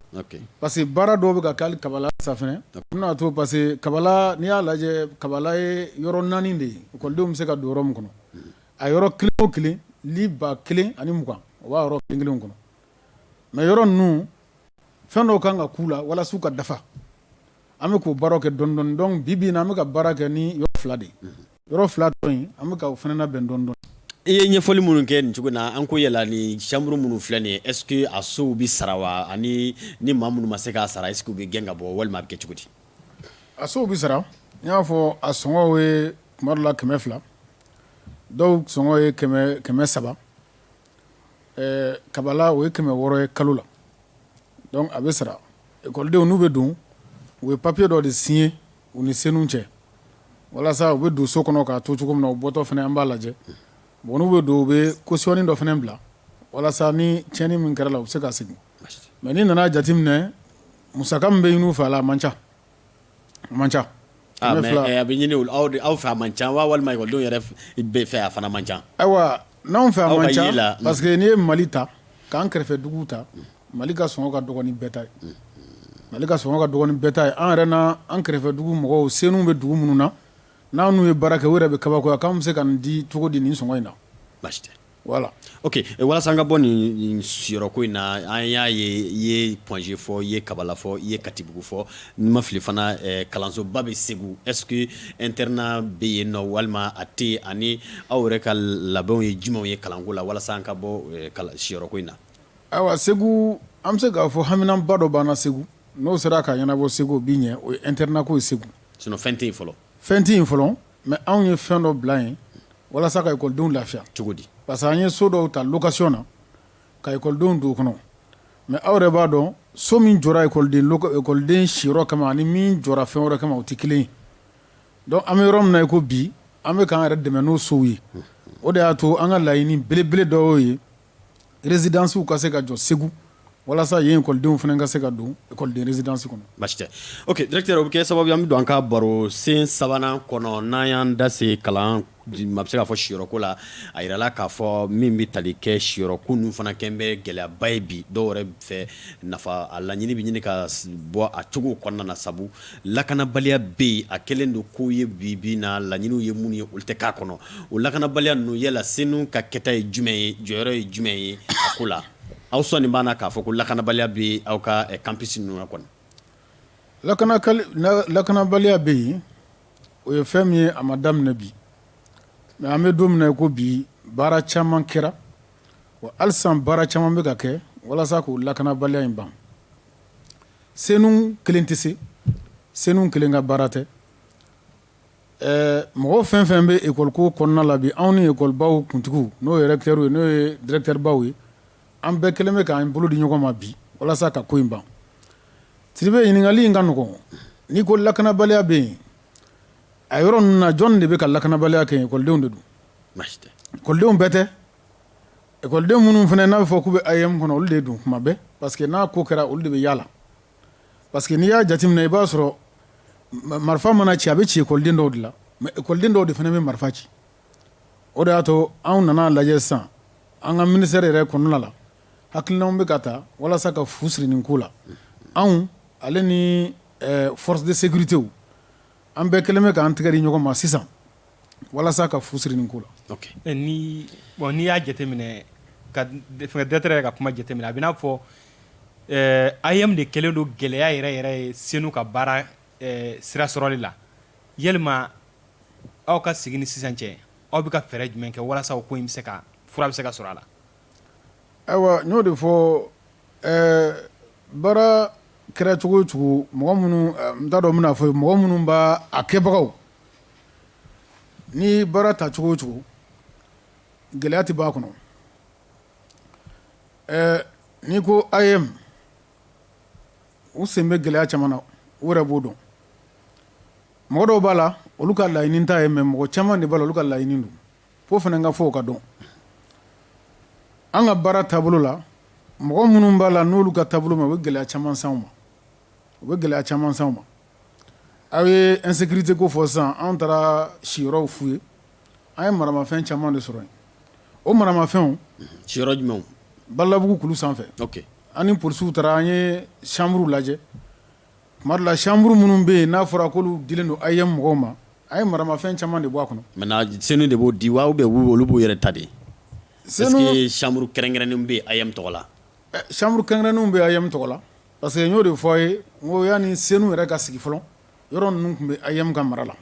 parce que baara dɔw bɛ ka kɛ hali kabala sanfɛ n'a to parce que kabala n'i y'a lajɛ kabala ye yɔrɔ naani de ye ekɔlidenw bɛ se ka don yɔrɔ min kɔnɔ a yɔrɔ kelen o kelen lit ba kelen ani mugan o b'a yɔrɔ kelen kelen kɔnɔ mais yɔrɔ ninnu fɛn dɔw kan ka k'u la walasa u ka dafa an bɛ k'o baara kɛ dɔɔnin dɔɔnin donc bi bi in na an bɛ ka baara kɛ ni yɔrɔ fila de ye yɔrɔ fila tɔ in an bɛ ka o fana labɛn dɔɔnin dɔɔnin i ye ɲɛfɔli minnu kɛ nin cogo na an ko yala ni chambre minnu filɛ nin est-ce que a sow bɛ sara wa ani ni maa minnu ma se k'a sara est-ce que u bɛ gɛn ka bɔ walima a bɛ kɛ cogo di a sow bɛ sara n y'a fɔ a sɔngɔ ye tuma dɔ la kɛmɛ fila dɔw sɔngɔ ye kɛmɛ saba Ɛɛ kabala o ye kɛmɛ wɔɔrɔ ye kalo la donc a bɛ sara ekɔlidenw n'u bɛ don u ye papiye dɔ de signer u ni CENOU cɛ walasa u bɛ don so kɔnɔ k'a to cogo min na u bɔtɔ fana an b'a lajɛ bon n'u bɛ don u bɛ caution dɔ fana bila walasa ni tiɲɛni min kɛr'a la u bɛ se ka segin mais n'i nan'a jateminɛ musaka min bɛ ɲini u fɛ a la a man ca Man ca a bɛ ɲini aw fɛ a man ca wa walima ekɔlidenw yɛrɛ bɛ fɛ a fana man ca ayiwa n'anw fɛ a man ca parce que n'i ye mali ta k'an kɛrɛfɛ dugu ta mali ka sɔngɔ ka dɔgɔ ni bɛɛ ta ye mali ka sɔngɔ ka dɔgɔ ni bɛɛ ta ye an yɛrɛ n'an kɛrɛfɛ dugu mɔgɔw CENOU bɛ dugu minnu na n'an n'u ye baara kɛ u yɛrɛ bɛ kabakoya k'an bɛ se ka nin di cogo di nin sɔngɔ in na Voilà ok walasa an ka bɔ nin siyɔrɔko in na an y'a ye i ye Point G fɔ i ye kabala fɔ i ye katibugu fɔ ni n ma fili fana kalansoba bɛ segu est-ce que internat bɛ yen nɔ walima a tɛ ani aw yɛrɛ ka labɛnw ye jumɛnw ye kalanko la walasa an ka bɔ siyɔrɔko in na ayiwa segu an bɛ se k'a fɔ haminanba dɔ b'an na segu n'o sera ka ɲɛnabɔ segu o bɛ ɲɛ o ye internat ko ye segu sinon fɛn tɛ yen fɔlɔ fɛn tɛ yen fɔlɔ mais anw ye fɛn dɔ bila yen walasa ka ekɔlidenw lafiya cogo di parce que an ye so dɔw ta location na ka ekɔlidenw don o kɔnɔ mais aw yɛrɛ b'a dɔn so min jɔra ekɔliden siyɔrɔ kama ani min jɔra fɛn wɛrɛ kama o tɛ kelen ye donc an bɛ yɔrɔ min na i ko bi an bɛ k'an yɛrɛ dɛmɛ n'o sow ye o de y'a to an ka laɲini belebele dɔ y'o ye résidencew ka se ka jɔ Segu walasa yen ekɔlidenw fana ka se ka don ekɔliden résidence kɔnɔ. Baasi tɛ ok directeur o bɛ kɛ sababu ye an bɛ don an ka baro sen sabanan kɔnɔ n'an y'an da se kalan ma bɛ se k'a fɔ siyɔrɔ ko la a yirala k'a fɔ min bɛ tali kɛ siyɔrɔ ko ninnu fana kɛlen bɛ gɛlɛyaba ye bi dɔw yɛrɛ fɛ nafa a laɲini bɛ ɲini ka bɔ a cogo kɔnɔna na sabu lakanabaliya bɛ yen a kɛlen don k'o ye bi bi in na laɲiniw ye minnu ye olu tɛ k'a kɔnɔ o lakanabaliya ninnu yala CENOU ka kɛta ye jumɛn ye jɔyɔrɔ ye jumɛn ye a ko la aw sɔnni b'a na k'a fɔ ko lakanabaliya bɛ aw ka campus ninnu na kɔni lakanabaliya bɛ yen o ye fɛn min ye a ma daminɛ bi mais an bɛ don min na i ko bi baara caman kɛra wa hali sisan baara caman bɛ ka kɛ walasa k'o lakanabaliya in ban CENOU kelen tɛ se CENOU kelen ka baara tɛ mɔgɔ fɛn fɛn bɛ ekɔli ko kɔnɔna la bi anw ni ekɔlibaw kuntigiw n'o ye recteur ye n'o ye directeurbaw ye an bɛɛ kɛlen bɛ k'an bolo di ɲɔgɔn ma bi walasa ka ko in ban Sidibe ɲininkakali in ka nɔgɔ n'i ko lakanabaliya bɛ yen a yɔrɔ ninnu na jɔn de bɛ ka lakanabaliya kɛ ekɔlidenw de don ekɔlidenw bɛɛ tɛ Ekɔliden minnu fana n'a bɛ fɔ k'u bɛ AEEM kɔnɔ olu de don kuma bɛɛ parce que n'a ko kɛra olu de bɛ y'a la parce que n'i y'a jateminɛ i b'a sɔrɔ marifa mana ci a bɛ ci ekɔliden dɔw de la mais ekɔliden dɔw de fana bɛ marifa ci o de y'a to anw nan'a lajɛ sisan an ka ministère yɛrɛ kɔnɔna la hakilinaw bɛ ka ta walasa ka fu siri nin ko la anw ale ni forces de sécurité an bɛɛ kɛlen bɛ k'an tɛgɛ di ɲɔgɔn ma sisan walasa ka fu siri nin ko la bon n'i y'a jateminɛ directeur yɛrɛ ka kuma jateminɛ a bɛ n'a fɔ AEEM de kɛlen don gɛlɛya yɛrɛ yɛrɛ ye CENOU ka baara sira sɔrɔli la yalima aw ka sigi ni sisan cɛ aw bɛ ka fɛɛrɛ jumɛn kɛ walasa o ko in bɛ se ka fura bɛ se ka sɔrɔ a la ayiwa n y'o de fɔ baara kɛra cogo o cogo mɔgɔ minnu n t'a dɔn n bɛna fɔ mɔgɔ minnu b'a kɛbagaw Ni baara ta cogo o cogo gɛlɛya tɛ b'a kɔnɔ ɛɛ n'i ko AEEM u sen bɛ gɛlɛya caman na u yɛrɛ b'o dɔn mɔgɔ dɔw b'a la olu ka laɲini t'a ye mais mɔgɔ caman de b'a la olu ka laɲini don fo fana ka fɔ o ka dɔn an ka baara taabolo la mɔgɔ minnu b'a la n'olu ka taabolo ma u bɛ gɛlɛya caman s'an ma aw ye insécurité ko fɔ sisan an taara siyɔrɔw fouiller an ye maramafɛn caman de sɔrɔ yen o maramafɛn siyɔrɔ jumɛnw balabugu kulu sanfɛ an ni polisiw taara an ye chambre lajɛ tuma dɔ la chambre minnu bɛ yen n'a fɔra k'olu dilen don AEEM mɔgɔw ma an ye maramafɛn caman de bɔ a kɔnɔ CENOU de b'o di wa ou bien olu b'u yɛrɛ ta de est-ce que chambre kɛrɛnkɛrɛnnen bɛ AEEM tɔgɔ la chambre kɛrɛnkɛrɛnnenw bɛ AEEM tɔgɔ la Parce que n y'o de fɔ a ye ko yanni CENOU yɛrɛ ka sigi fɔlɔ yɔrɔ ninnu tun bɛ AEEM ka mara la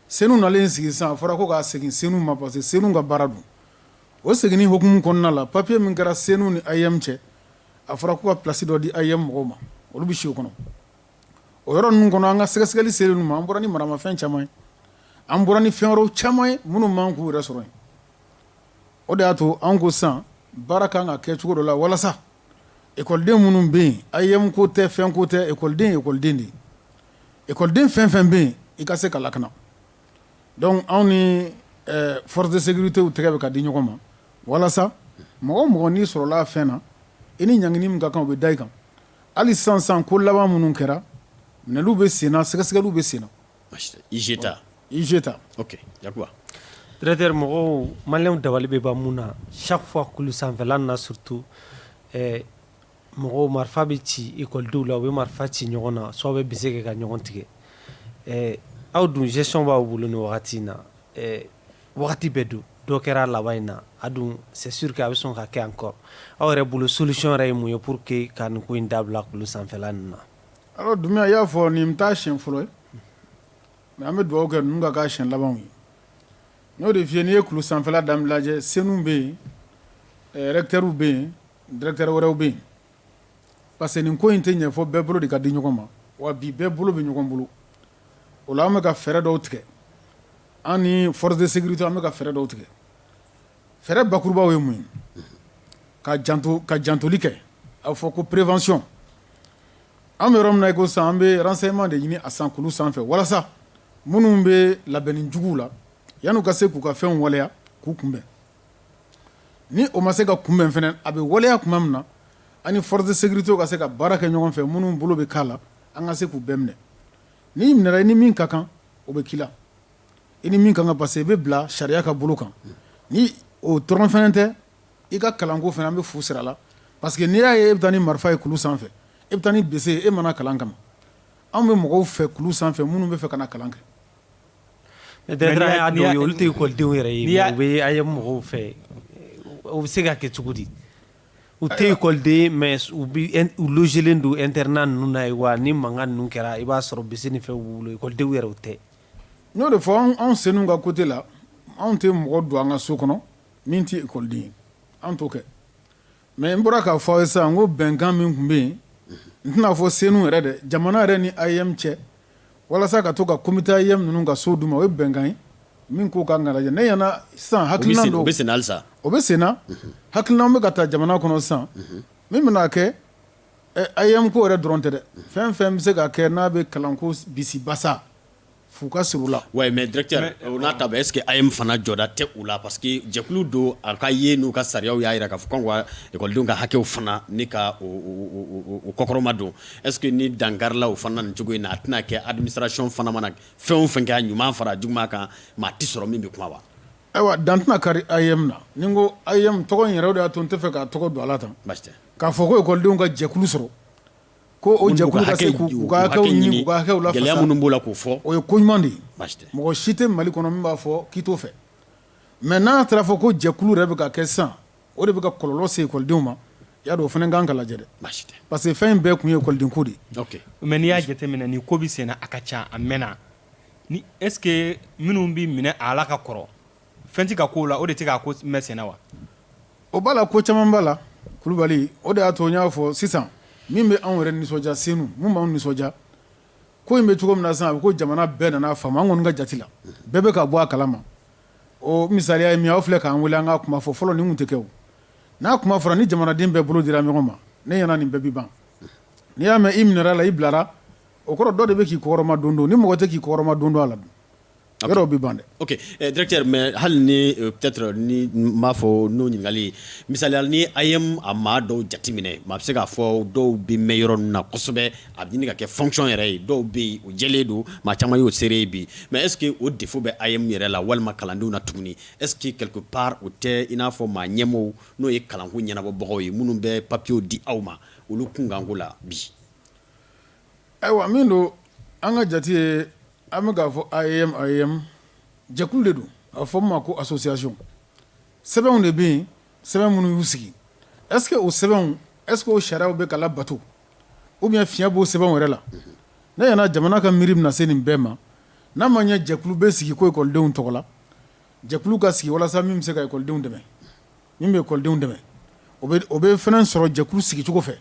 CENOU nalen sigi sisan a fɔra ko k'a segin CENOU ma parce que CENOU ka baara don o seginni hukumu kɔnɔna la papiye min kɛra CENOU ni AEEM cɛ a fɔra ko ka place dɔ di AEEM mɔgɔw ma olu bɛ si o kɔnɔ o yɔrɔ ninnu kɔnɔ an ka sɛgɛsɛgɛli selen ninnu ma an bɔra ni maramafɛn caman ye an bɔra ni fɛn wɛrɛw caman ye minnu man k'u yɛrɛ sɔrɔ yen o de y'a to an ko sisan baara kan ka kɛ cogo dɔ la walasa Ekɔliden minnu bɛ yen AEEM ko tɛ fɛn ko tɛ ekɔliden ye ekɔliden de ye ekɔliden fɛn fɛn bɛ yen i ka se ka lakana donc anw ni forces de sécurité tɛgɛ bɛ ka di ɲɔgɔn ma walasa mɔgɔ mɔgɔ n'i sɔrɔla fɛn na i ni ɲangini min ka kan o bɛ da i kan hali sisan ko laban minnu kɛra minɛliw bɛ sen na sɛgɛsɛgɛliw bɛ sen na et cetera ok directeur mɔgɔw maliyɛnw dabali bɛ ban mun na chaque fois kulu sanfɛla na surtout ɛɛ mɔgɔ marifa bɛ ci ekɔlidenw la u bɛ marifa ci ɲɔgɔn na soit bɛ bese kɛ ka ɲɔgɔn tigɛ ɛɛ aw dun gestion b'aw bolo nin wagati in na ɛɛ wagati bɛɛ don dɔ kɛra laban in na a dun c'est sûr que a bɛ sɔn ka kɛ encore aw yɛrɛ bolo solution yɛrɛ ye mun ye pour que ka nin ko in dabila kulu sanfɛla in na Ɔ Dunbiya i y'a fɔ nin t'a siɲɛ fɔlɔ ye mais an bɛ dugawu kɛ ninnu ka k'a siɲɛ laban ye n y'o de f'i ye n'i ye kulu sanfɛla dama lajɛ CENOU bɛ yen recteurw bɛ yen directeur wɛrɛw bɛ yen parce que nin ko in tɛ ɲɛ fo bɛɛ bolo de ka di ɲɔgɔn ma wa bi bɛɛ bolo bɛ ɲɔgɔn bolo o an bɛ ka fɛɛrɛ dɔw tigɛ an ni forces de sécurité an bɛ ka fɛɛrɛ dɔw tigɛ fɛɛrɛ bakurubaw ye mun ye ka janto ka jantoli kɛ a bɛ fɔ ko prévention An bɛ yɔrɔ min na i ko sisan an bɛ renseignements de ɲini a sisan kulu sanfɛ walasa minnu bɛ labɛnni juguw la yanni u ka se k'u ka fɛnw waleya k'u kunbɛn ni o ma se ka kunbɛn fana a bɛ waleya tuma min na an ni forces de sécurité ka se ka baara kɛ ɲɔgɔn fɛ minnu bolo bɛ k'a la an ka se k'u bɛɛ minɛ n'i minɛra i ni min ka kan o bɛ k'i la i ni min ka kan parce que i bɛ bila sariya ka bolo kan ni o dɔrɔn fana tɛ i ka kalanko fana an bɛ fu sira la parce que n'i y'a ye e bɛ taa ni marifa ye kulu sanfɛ e bɛ taa ni bese e ma na kalan kama anw bɛ mɔgɔw fɛ kulu sanfɛ minnu bɛ fɛ ka kalan kɛ mais directeur olu tɛ ekɔlidenw yɛrɛ ye u bɛ AEEM mɔgɔw fɛ o bɛ se ka kɛ cogo di u tɛ ekɔliden mais u bɛ u logelen don internat ninnu na yen wa ni mankan ninnu kɛra i b'a sɔrɔ bese ni fɛn b'u bolo ekɔlidenw yɛrɛ o tɛ n y'o de fɔ anw Senu ka côté la anw tɛ mɔgɔ don an ka so kɔnɔ Min tɛ ekɔliden ye an t'o kɛ mais n bɔra k'a fɔ aw ye sisan n ko bɛnkan min tun bɛ yen n tɛna a fɔ Senu yɛrɛ dɛ jamana yɛrɛ ni AEEM cɛ walasa ka to ka comité AEEM ninnu ka so d'u ma o ye bɛnkan ye min ko ka kan ka lajɛ ne ɲɛna sisan hakilina dɔw o bɛ sen na halisa o bɛ senna hakilinaw bɛ ka taa jamana kɔnɔ sisan min bɛna kɛ AEEM ko yɛrɛ dɔrɔn tɛ dɛ fɛn fɛn bɛ se ka kɛ n'a bɛ kalanko bisibasa Fo ka sɔrɔ u la ouais mais directeur o n'a ta bɛɛ est-ce que AEEM fana jɔda tɛ u la parce que jɛkulu don a ka ye n'u ka sariyaw y'a jira k'a fɔ k'a ka kan ka ekɔlidenw ka hakɛw fana ɲini ka o kɔkɔrɔma don est-ce que ni dan karila o fana na nin cogo in na a tɛna kɛ administration fana mana fɛn o fɛn kɛ a ɲuman fara a juguman kan maa tɛ sɔrɔ min bɛ kuma wa ayiwa dan tɛna kari AEEM na ni n ko AEEM tɔgɔ in yɛrɛ de y'a to n tɛ fɛ k'a tɔgɔ don a la tan k'a fɔ ko ekɔlidenw ka jɛkulu sɔrɔ Ko o jɛkulu ka se k'u ka hakɛw ɲini k'u ka hakɛw lafasa gɛlɛya minnu b'o la k'o fɔ o ye ko ɲuman de mɔgɔ si tɛ mali kɔnɔ min b'a fɔ k'i t'o fɛ mais n'a taara a fɔ ko jɛkulu yɛrɛ bɛ ka kɛ sisan o de bɛ ka kɔlɔlɔ se ekɔlidenw ma i y'a dɔn o fana kan ka lajɛ dɛ parce que fɛn in bɛɛ kun ye ekɔliden ko de mais n'i y'a jateminɛ ni ko bɛ sen na a ka ca a mɛnna ni est-ce que minnu bɛ minɛ a la ka kɔrɔ Fɛn tɛ ka k'u la o de tɛ ka ko mɛn sen na wa o b'a la ko caman b'a la kulubali o de y'a to n y'a fɔ sisan min bɛ anw yɛrɛ nisɔndiya Senu min b'an nisɔndiya ko in bɛ cogo min na sisan a bɛ ko jamana bɛɛ nana faamu an kɔni ka jate la bɛɛ bɛ ka bɔ a kalama o misaliya ye min aw filɛ k'an wele an ka kuma fɔ fɔlɔ nin tun tɛ kɛ o n'a kuma fɔra ni jamanaden bɛɛ bolo dira ɲɔgɔn ma ne ɲɛna nin bɛɛ bɛ ban n'i y'a mɛn i minɛla i bilara o kɔrɔ dɔ de bɛ k'i kɔkɔrɔma don ni mɔgɔ tɛ k'i kɔkɔrɔma don a la A yɔrɔ bɛ ban dɛ ok directeur mais hali ni peut-être ni n b'a fɔ n'o ɲininkali misaliya la ni AEEM a maa dɔw jateminɛ maa bɛ se k'a fɔ dɔw bɛ mɛn yɔrɔ ninnu na kosɛbɛ a bɛ ɲini ka kɛ fonction yɛrɛ ye dɔw bɛ yen o jɛlen don maa caman y'o seere ye bi mais est-ce que o défaut bɛ AEEM yɛrɛ la walima kalandenw na tuguni est-ce que quelque part o tɛ i n'a fɔ maa ɲɛmɔgɔw n'o ye kalanko ɲɛnabɔbagaw ye minnu bɛ papiyew di aw ma olu kunkanko la bi Ayiwa min don an ka jate ye an bɛ k'a fɔ AEEM jɛkulu de don a bɛ fɔ a ma ko association sɛbɛnw de bɛ yen sɛbɛn minnu y'u sigi est-ce que o sɛbɛnw est-ce que o sariyaw bɛ ka labato ou bien fiɲɛ b'o sɛbɛnw yɛrɛ la ne ɲɛ na jamana ka miiri na se nin bɛɛ ma n'a ma ɲɛ jɛkulu bɛ sigi ko ekɔlidenw tɔgɔ la jɛkulu ka sigi walasa min bɛ se ka ekɔlidenw dɛmɛ min bɛ ekɔlidenw dɛmɛ o bɛ fɛn sɔrɔ jɛkulu sigicogo fɛ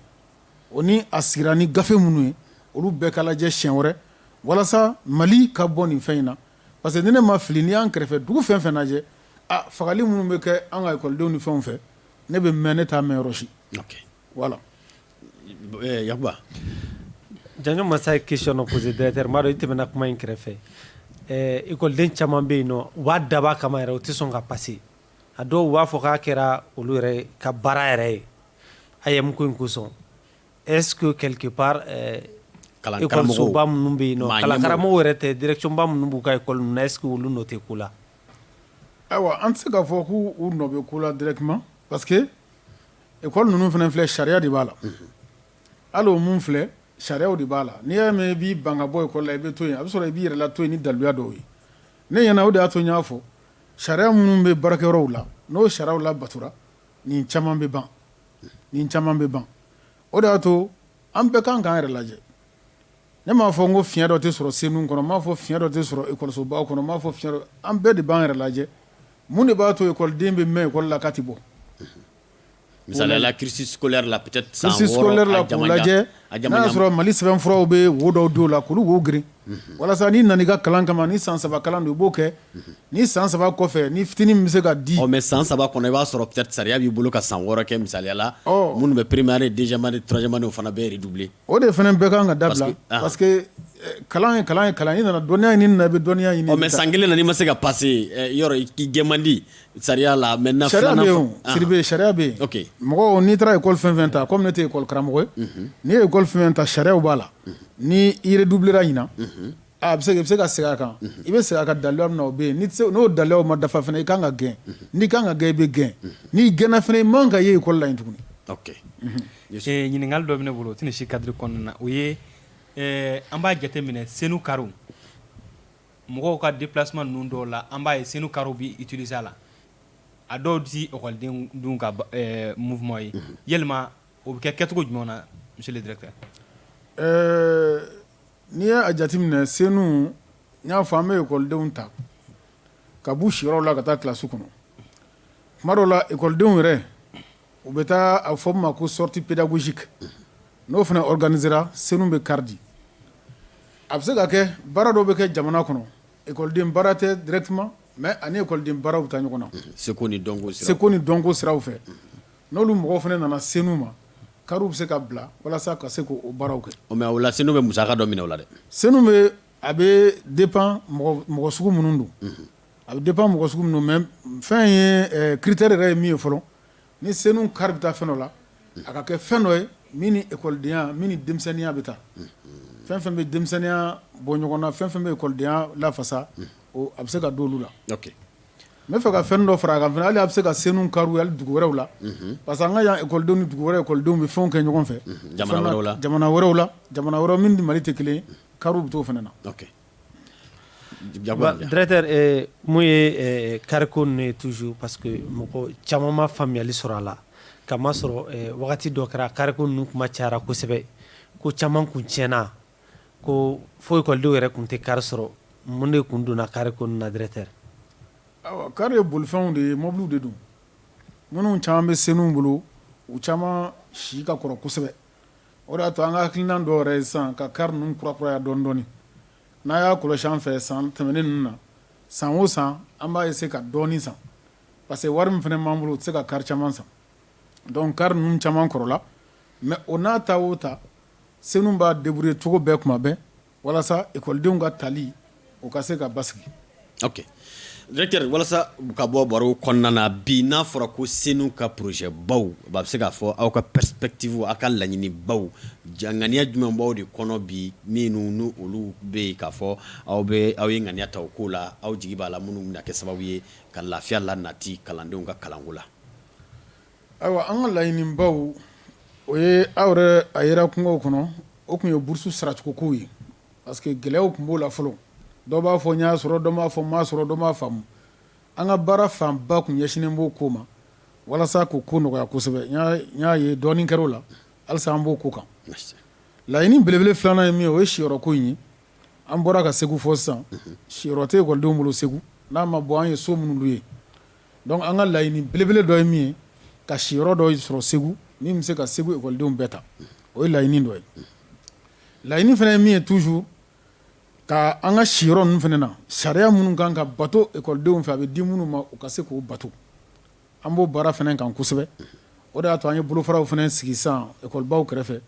o ni a sigira ni gafe minnu ye olu bɛɛ ka lajɛ siɲɛ wɛrɛ walasa mali ka bɔ nin fɛn in na parce que ni ne ma fili n'i y'an kɛrɛfɛ dugu fɛn fɛn lajɛ fagali minnu bɛ kɛ an ka ekɔlidenw ni fɛnw fɛ ne bɛ mɛn ne t'a mɛn yɔrɔ si voilà yakuba janjo masa ye question dɔ poser directeur n b'a dɔn i tɛmɛna kuma in kɛrɛfɛ ekɔliden caman bɛ yen nɔ u b'a dabɔ a kama yɛrɛ o tɛ sɔn ka passer a dɔw b'a fɔ k'a kɛra olu yɛrɛ ka baara yɛrɛ ye AEEM ko in kosɔn est-ce que quelque part kalansoba minnu bɛ yen kalankaramɔgɔw yɛrɛ tɛ direction ba minnu b'u ka ekɔli ninnu na est-ce que olu nɔ tɛ ko la ayiwa an tɛ se k'a fɔ k'u nɔ bɛ ko la directement parce que ekɔli ninnu fana filɛ sariya de b'a la hali minnu filɛ sariya de b'a la n'i y'a mɛn i b'i ban ka bɔ ekɔli la i bɛ to yen a bɛ sɔrɔ i b'i yɛrɛ la to yen ni daluya dɔw ye ne ɲɛna o de y'a to n y'a fɔ sariya minnu bɛ baarakɛyɔrɔw la n'o sariyaw labatora Nin caman bɛ ban nin caman bɛ ban o de y'a to an bɛɛ kan k'an yɛrɛ lajɛ ne m'a fɔ n ko fiɲɛ dɔ tɛ sɔrɔ senu kɔnɔ n m'a fɔ fiɲɛ dɔ tɛ sɔrɔ ekɔlisobaw kɔnɔ n m'a fɔ fiɲɛ dɔ an bɛɛ de b'an yɛrɛ lajɛ mun de b'a to ekɔliden bɛ mɛn ekɔli la k'a tɛ bɔ misaliya la cursus lajɛ N'a y'a sɔrɔ mali sɛbɛn furaw bɛ wo dɔw don la k'olu wo girin walasa n'i nana i ka kalan kama ni san saba kalan don i b'o kɛ ni san saba kɔfɛ ni fitinin min bɛ se ka di mais san saba kɔnɔ i b'a sɔrɔ peut-être sariya b'i bolo ka san wɔɔrɔ kɛ misaliya la minnu bɛ première deuxième année troisième année o fana bɛɛ redoubler o de fana bɛɛ kan ka dabila parce que kalan ye kalan ye kalan i nana dɔnniya ɲini na i bɛ dɔnniya ɲini mais san kelen na n'i ma se ka passer yɔrɔ i gɛn man di Sariya la maintenant sariya sidibe sariya bɛ yen mɔgɔ n'i taara ekɔli fɛn fɛn ta comme ne tɛ ekɔli karamɔgɔ ye n'i ye ekɔli fɛn fɛn ta sariyaw b'a la n'i redoublera ɲinan a bɛ se i bɛ se ka segin a kan i bɛ segin a kan daluya min na o bɛ yen n'o daluya ma dafa fana i ka kan ka gɛn n'i ka kan ka gɛn i bɛ gɛn n'i gɛnna fana i man ka ye ekɔli la yen tuguni ɲininkali dɔ bɛ ne bolo o tɛ nin si cadre kɔnɔna na o ye an b'a jateminɛ senu kari mɔgɔw ka déplacement ninnu dɔw la an b'a ye senu kariw bɛ utiliser a la a dɔw tɛ école denw ka ɛɛ mouvement ye yalima o bɛ kɛ kɛcogo jumɛn na monsieur le directeur ɛɛ n'i ye a jateminɛ senu n y'a fɔ an bɛ école denw ta ka b'u siyɔrɔw la ka taa classe kɔnɔ tuma dɔw la école denw yɛrɛ u bɛ taa a fɔ min ma ko sortie pédagogique n'o fana organiséra senu bɛ kari di a bɛ se ka kɛ baara dɔw bɛ kɛ jamana kɔnɔ ekɔliden baara tɛ directement mais a ni ekɔliden baaraw bɛ taa ɲɔgɔn na seko ni dɔnko siraw fɛ n'olu mɔgɔw fana nana senu ma kariw bɛ se ka bila walasa ka se k' o baaraw kɛ mais o la senu bɛ musaka dɔ minɛ o la dɛ senu bɛ A bɛ dépend mɔgɔ sugu minnu don a bɛ dépend mɔgɔ sugu mais fɛn ye critère yɛrɛ ye min ye fɔlɔ ni senu kari bɛ taa fɛn dɔ la a ka kɛ fɛn dɔ ye min ni ekɔlidenya min ni denmisɛnninya bɛ taa fɛn fɛn bɛ denmisɛnninya bɔ ɲɔgɔn na fɛn fɛn bɛ ekɔlidenya lafasa a bɛ se ka don olu la n b'a fɛ ka fɛn dɔ fara a kan hali a bɛ se ka senu kariw hali dugu wɛrɛw la parce que an ka yan ekɔlidenw ni dugu wɛrɛ ekɔlidenw bɛ fɛn kɛ ɲɔgɔn fɛ jamana wɛrɛ la jamana wɛrɛ min ni mali tɛ kelen Kariw bɛ t'o fana na directeur mun ye kariko ninnu ye toujours parce que mɔgɔ caman ma faamuyali sɔrɔ a la k'a masɔrɔ wagati dɔ kɛra kariko ninnu kuma cayara kosɛbɛ ko caman kun tiɲɛna ko fo ekɔlidenw yɛrɛ tun tɛ kari sɔrɔ mun de tun donna kariko ninnu na directeur kari ye bolifɛnw de ye mɔbiliw de don minnu caman bɛ senu bolo u caman si ka kɔrɔ kosɛbɛ o de y'a to an ka hakilina dɔw yɛrɛ ye sisan ka kari ninnu kurakuraya dɔɔnin dɔɔnin n'a y'a kɔlɔsi an fɛ san tɛmɛnen ninnu na san o san an b'a essayer ka dɔɔnin san parce que wari min fana b'an bolo u tɛ se ka kari caman san donc kari ninnu caman kɔrɔla mais o n'a ta o ta senu b'a débrouiller cogo bɛɛ kuma bɛɛ Walasa ekɔlidenw ka tali o ka se ka basigi directeur walasa ka bɔ baro kɔnɔna na bi n'a fɔra ko senu ka projet baw baa bɛ se k'a fɔ aw ka perspectives aw ka laɲini baw ŋaniya jumɛn b'aw de kɔnɔ bi minnu n' olu bɛ yen k'a fɔ aw bɛ aw ye ŋaniya ta o ko la aw jigi b'a la minnu bɛna kɛ sababu ye ka lafiya la nati kalandenw ka kalanko la Ayiwa an ka laɲini baw o ye aw yɛrɛ a yera kungo kɔnɔ o tun ye bourse saracogo ko ye parce que gɛlɛyaw tun b'o la fɔlɔ dɔw b'a fɔ n y'a sɔrɔ dɔw b'a fɔ n m'a sɔrɔ dɔw b'a faamu an ka baara fanba tun ɲɛsinnen b'o ko ma walasa k'o ko nɔgɔya kosɛbɛ n y'a ye dɔɔnin kɛra o la halisa an b'o ko kan laɲini belebele filanan ye min ye o ye siyɔrɔ ko in ye an bɔra ka segu fɔ sisan siyɔrɔ tɛ ekɔlidenw bolo segu n'a ma bɔ an ye so minnu ye Donc an ka laɲini belebele dɔ ye min ye ka siyɔrɔ dɔ sɔrɔ segu min bɛ se ka segu ekɔlidenw bɛɛ ta o ye laɲini dɔ ye laɲini fana ye min ye toujours ka an ka siyɔrɔ ninnu fana na sariya minnu kan ka bato ekɔlidenw fɛ a bɛ di minnu ma u ka se k'o bato an b'o baara fana kan kosɛbɛ o de y'a to an ye bolofaraw fana sigi sisan ekɔlibaw kɛrɛfɛ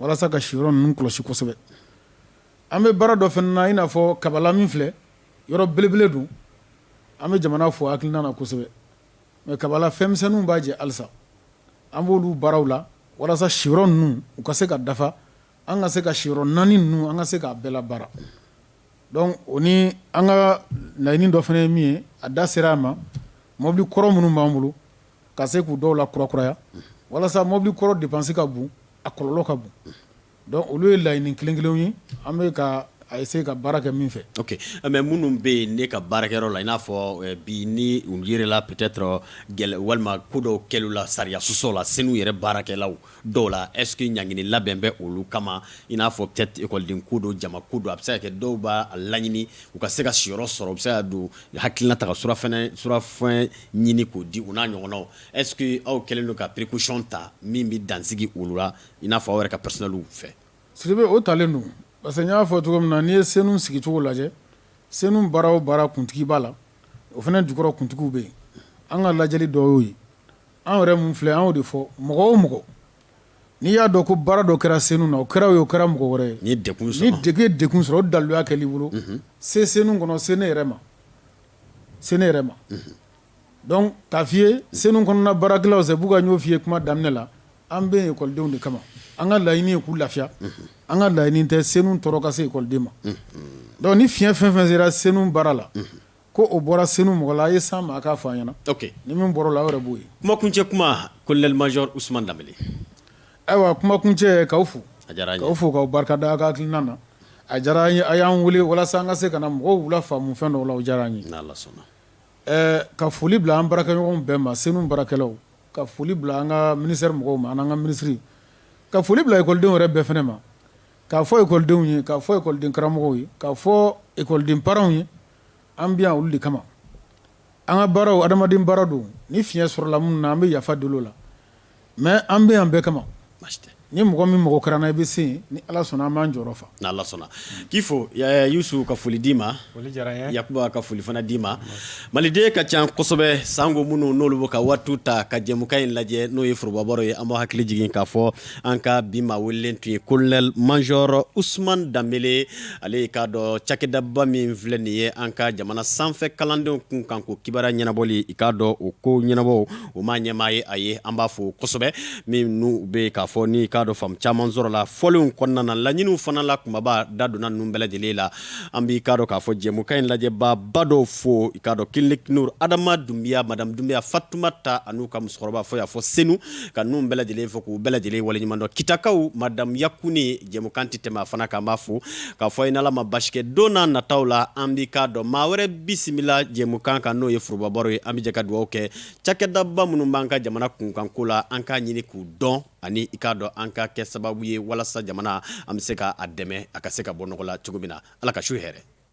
walasa ka siyɔrɔ ninnu kɔlɔsi kosɛbɛ an bɛ baara dɔ fana na i n'a fɔ kabala min filɛ yɔrɔ belebele don an bɛ jamana fo hakilina na kosɛbɛ mais kabala fɛnmisɛnninw b'a jɛ halisa an b'olu baaraw la walasa siyɔrɔ ninnu u ka se ka dafa an ka se ka siyɔrɔ naani ninnu an ka se k'a bɛɛ labaara donc o ni an ka laɲini dɔ fana ye min ye a da sera a ma mɔbili kɔrɔ minnu b'an bolo ka se k'u dɔw lakurakuraya walasa mɔbili kɔrɔ dépense ka bon a kɔlɔlɔ ka bon Donc olu ye laɲini kelen kelenw ye an bɛ ka a essayer ka baara kɛ min fɛ ok mais minnu bɛ yen ne ka baarakɛyɔrɔ la i n'a fɔ bi ni u yɛrɛla peut-être gɛlɛya walima ko dɔw kɛli la sariya sɔsɔ la senu yɛrɛ baarakɛlaw dɔw la est-ce que ɲangini labɛn bɛ olu kama i n'a fɔ peut-être ekɔliden ko don jama ko don a bɛ se ka kɛ dɔw b'a laɲini u ka se ka siyɔrɔ sɔrɔ u bɛ se ka don hakilina ta ka surafɛn ɲini k'o di u n'a ɲɔgɔnnaw est-ce que aw kɛlen don ka précaution ta min bɛ dansigi olu la i n'a fɔ aw yɛrɛ ka personnel fɛ sidibe o talen don parce que n y'a fɔ cogo min na n'i ye senu sigicogo lajɛ senu baara o baara kuntigi b'a la o fana dukɔrɔ kuntigiw bɛ yen an ka lajɛli dɔ y'o ye an yɛrɛ min filɛ an y'o de fɔ mɔgɔ o mɔgɔ n'i y'a dɔn ko baara dɔ kɛra senu na o kɛra o ye o kɛra mɔgɔ wɛrɛ ye n'i ye kun sɔrɔ o daluya kɛl'i bolo se senu kɔnɔ se ne yɛrɛ ma Donc k'a f'i ye senu kɔnɔna baarakɛlaw se b'u kan n y'o f'i ye kuma daminɛ la an bɛ yen ekɔlidenw de kama an ka laɲini ye k'u lafiya an ka laɲini tɛ senu tɔɔrɔ ka se ekɔliden ma donc ni fiɲɛ fɛn fɛn sera senu baara la ko o bɔra senu mɔgɔ la a ye s'an ma a k'a fɔ an ɲɛna ni min bɔra o la o yɛrɛ b'o ye kumakuncɛ kuma colonel major usman danbele ayiwa kumakuncɛ k'aw fo a diyara an ye k'aw fo k'aw barika da a ka hakilina na a diyara an ye a y'an weele walasa an ka se ka na mɔgɔw lafaamu fɛn dɔw la o diyara an ye Ka foli bila an baarakɛɲɔgɔnw bɛɛ ma senu baarakɛlaw ka foli bila an ka ministère mɔgɔw ma an ka minisiri ka foli bila ekɔlidenw yɛrɛ bɛɛ fana ma k'a fɔ ekɔlidenw ye k'a fɔ ekɔliden karamɔgɔw ye k'a fɔ ekɔliden parents ye an bɛ yan olu de kama an ka baara adamaden baara don ni fiɲɛ sɔrɔla minnu na an bɛ yafa deli o la mais an bɛ yan bɛɛ kama ni mɔgɔ min mago kɛra an na i bɛ se ni ala sɔnna an b'an jɔyɔrɔ fa ni ala sɔnna k'i fo yusufu ka foli d'i ma yakuba ka foli fana d'i ma maliden ka ca kosɛbɛ sanko minnu n'olu bɛ ka waatiw ta ka jɛmukan in lajɛ n'o ye foroba baro ye an b'aw hakili jigin k'a fɔ an ka bi maa welelen tun ye colonel major usman danbele ale i k'a dɔn cakɛdaba min filɛ nin ye an ka jamana sanfɛ kalandenw kunkan ko kibaruya ɲɛnabɔli i k'a dɔn o ko ɲɛnabɔ o maa ɲɛmaa ye a ye an b'a fo kosɛbɛ min n'u bɛ k'a fɔ n'i k'a dɔn faamu caman sɔrɔla fɔlenw kɔnɔna na laɲiniw fana la kunbaba da donna ninnu bɛɛ lajɛlen la an b'i k'a dɔn k'a fɔ jɛmukan in lajɛbaaba dɔw fo i k'a dɔn klinik nur adama dunbiya madamu dunbiya fatumata ani u ka musokɔrɔba fo y'a fo senu ka ninnu bɛɛ lajɛlen fo k'u bɛɛ lajɛlen waleɲuman dɔn kitakaw madamu yakuni jɛmukan tɛ tɛmɛ a fana kan an b'a fo k'a fɔ n'ala ma basi kɛ don na nataw la an bɛ k'a dɔn maa wɛrɛ bisimila jɛmukan kan n'o ye forobabaro ye an bɛ jɛ ka dugawu kɛ cakɛdaba minnu b'an ka jamana kunkanko la an k'a ɲini k'u dɔn ani i k'a dɔn an ka kɛ sababu ye walasa jamana an bɛ se k'a dɛmɛ a ka se ka bɔ nɔgɔ la cogo min na ala ka su hɛrɛ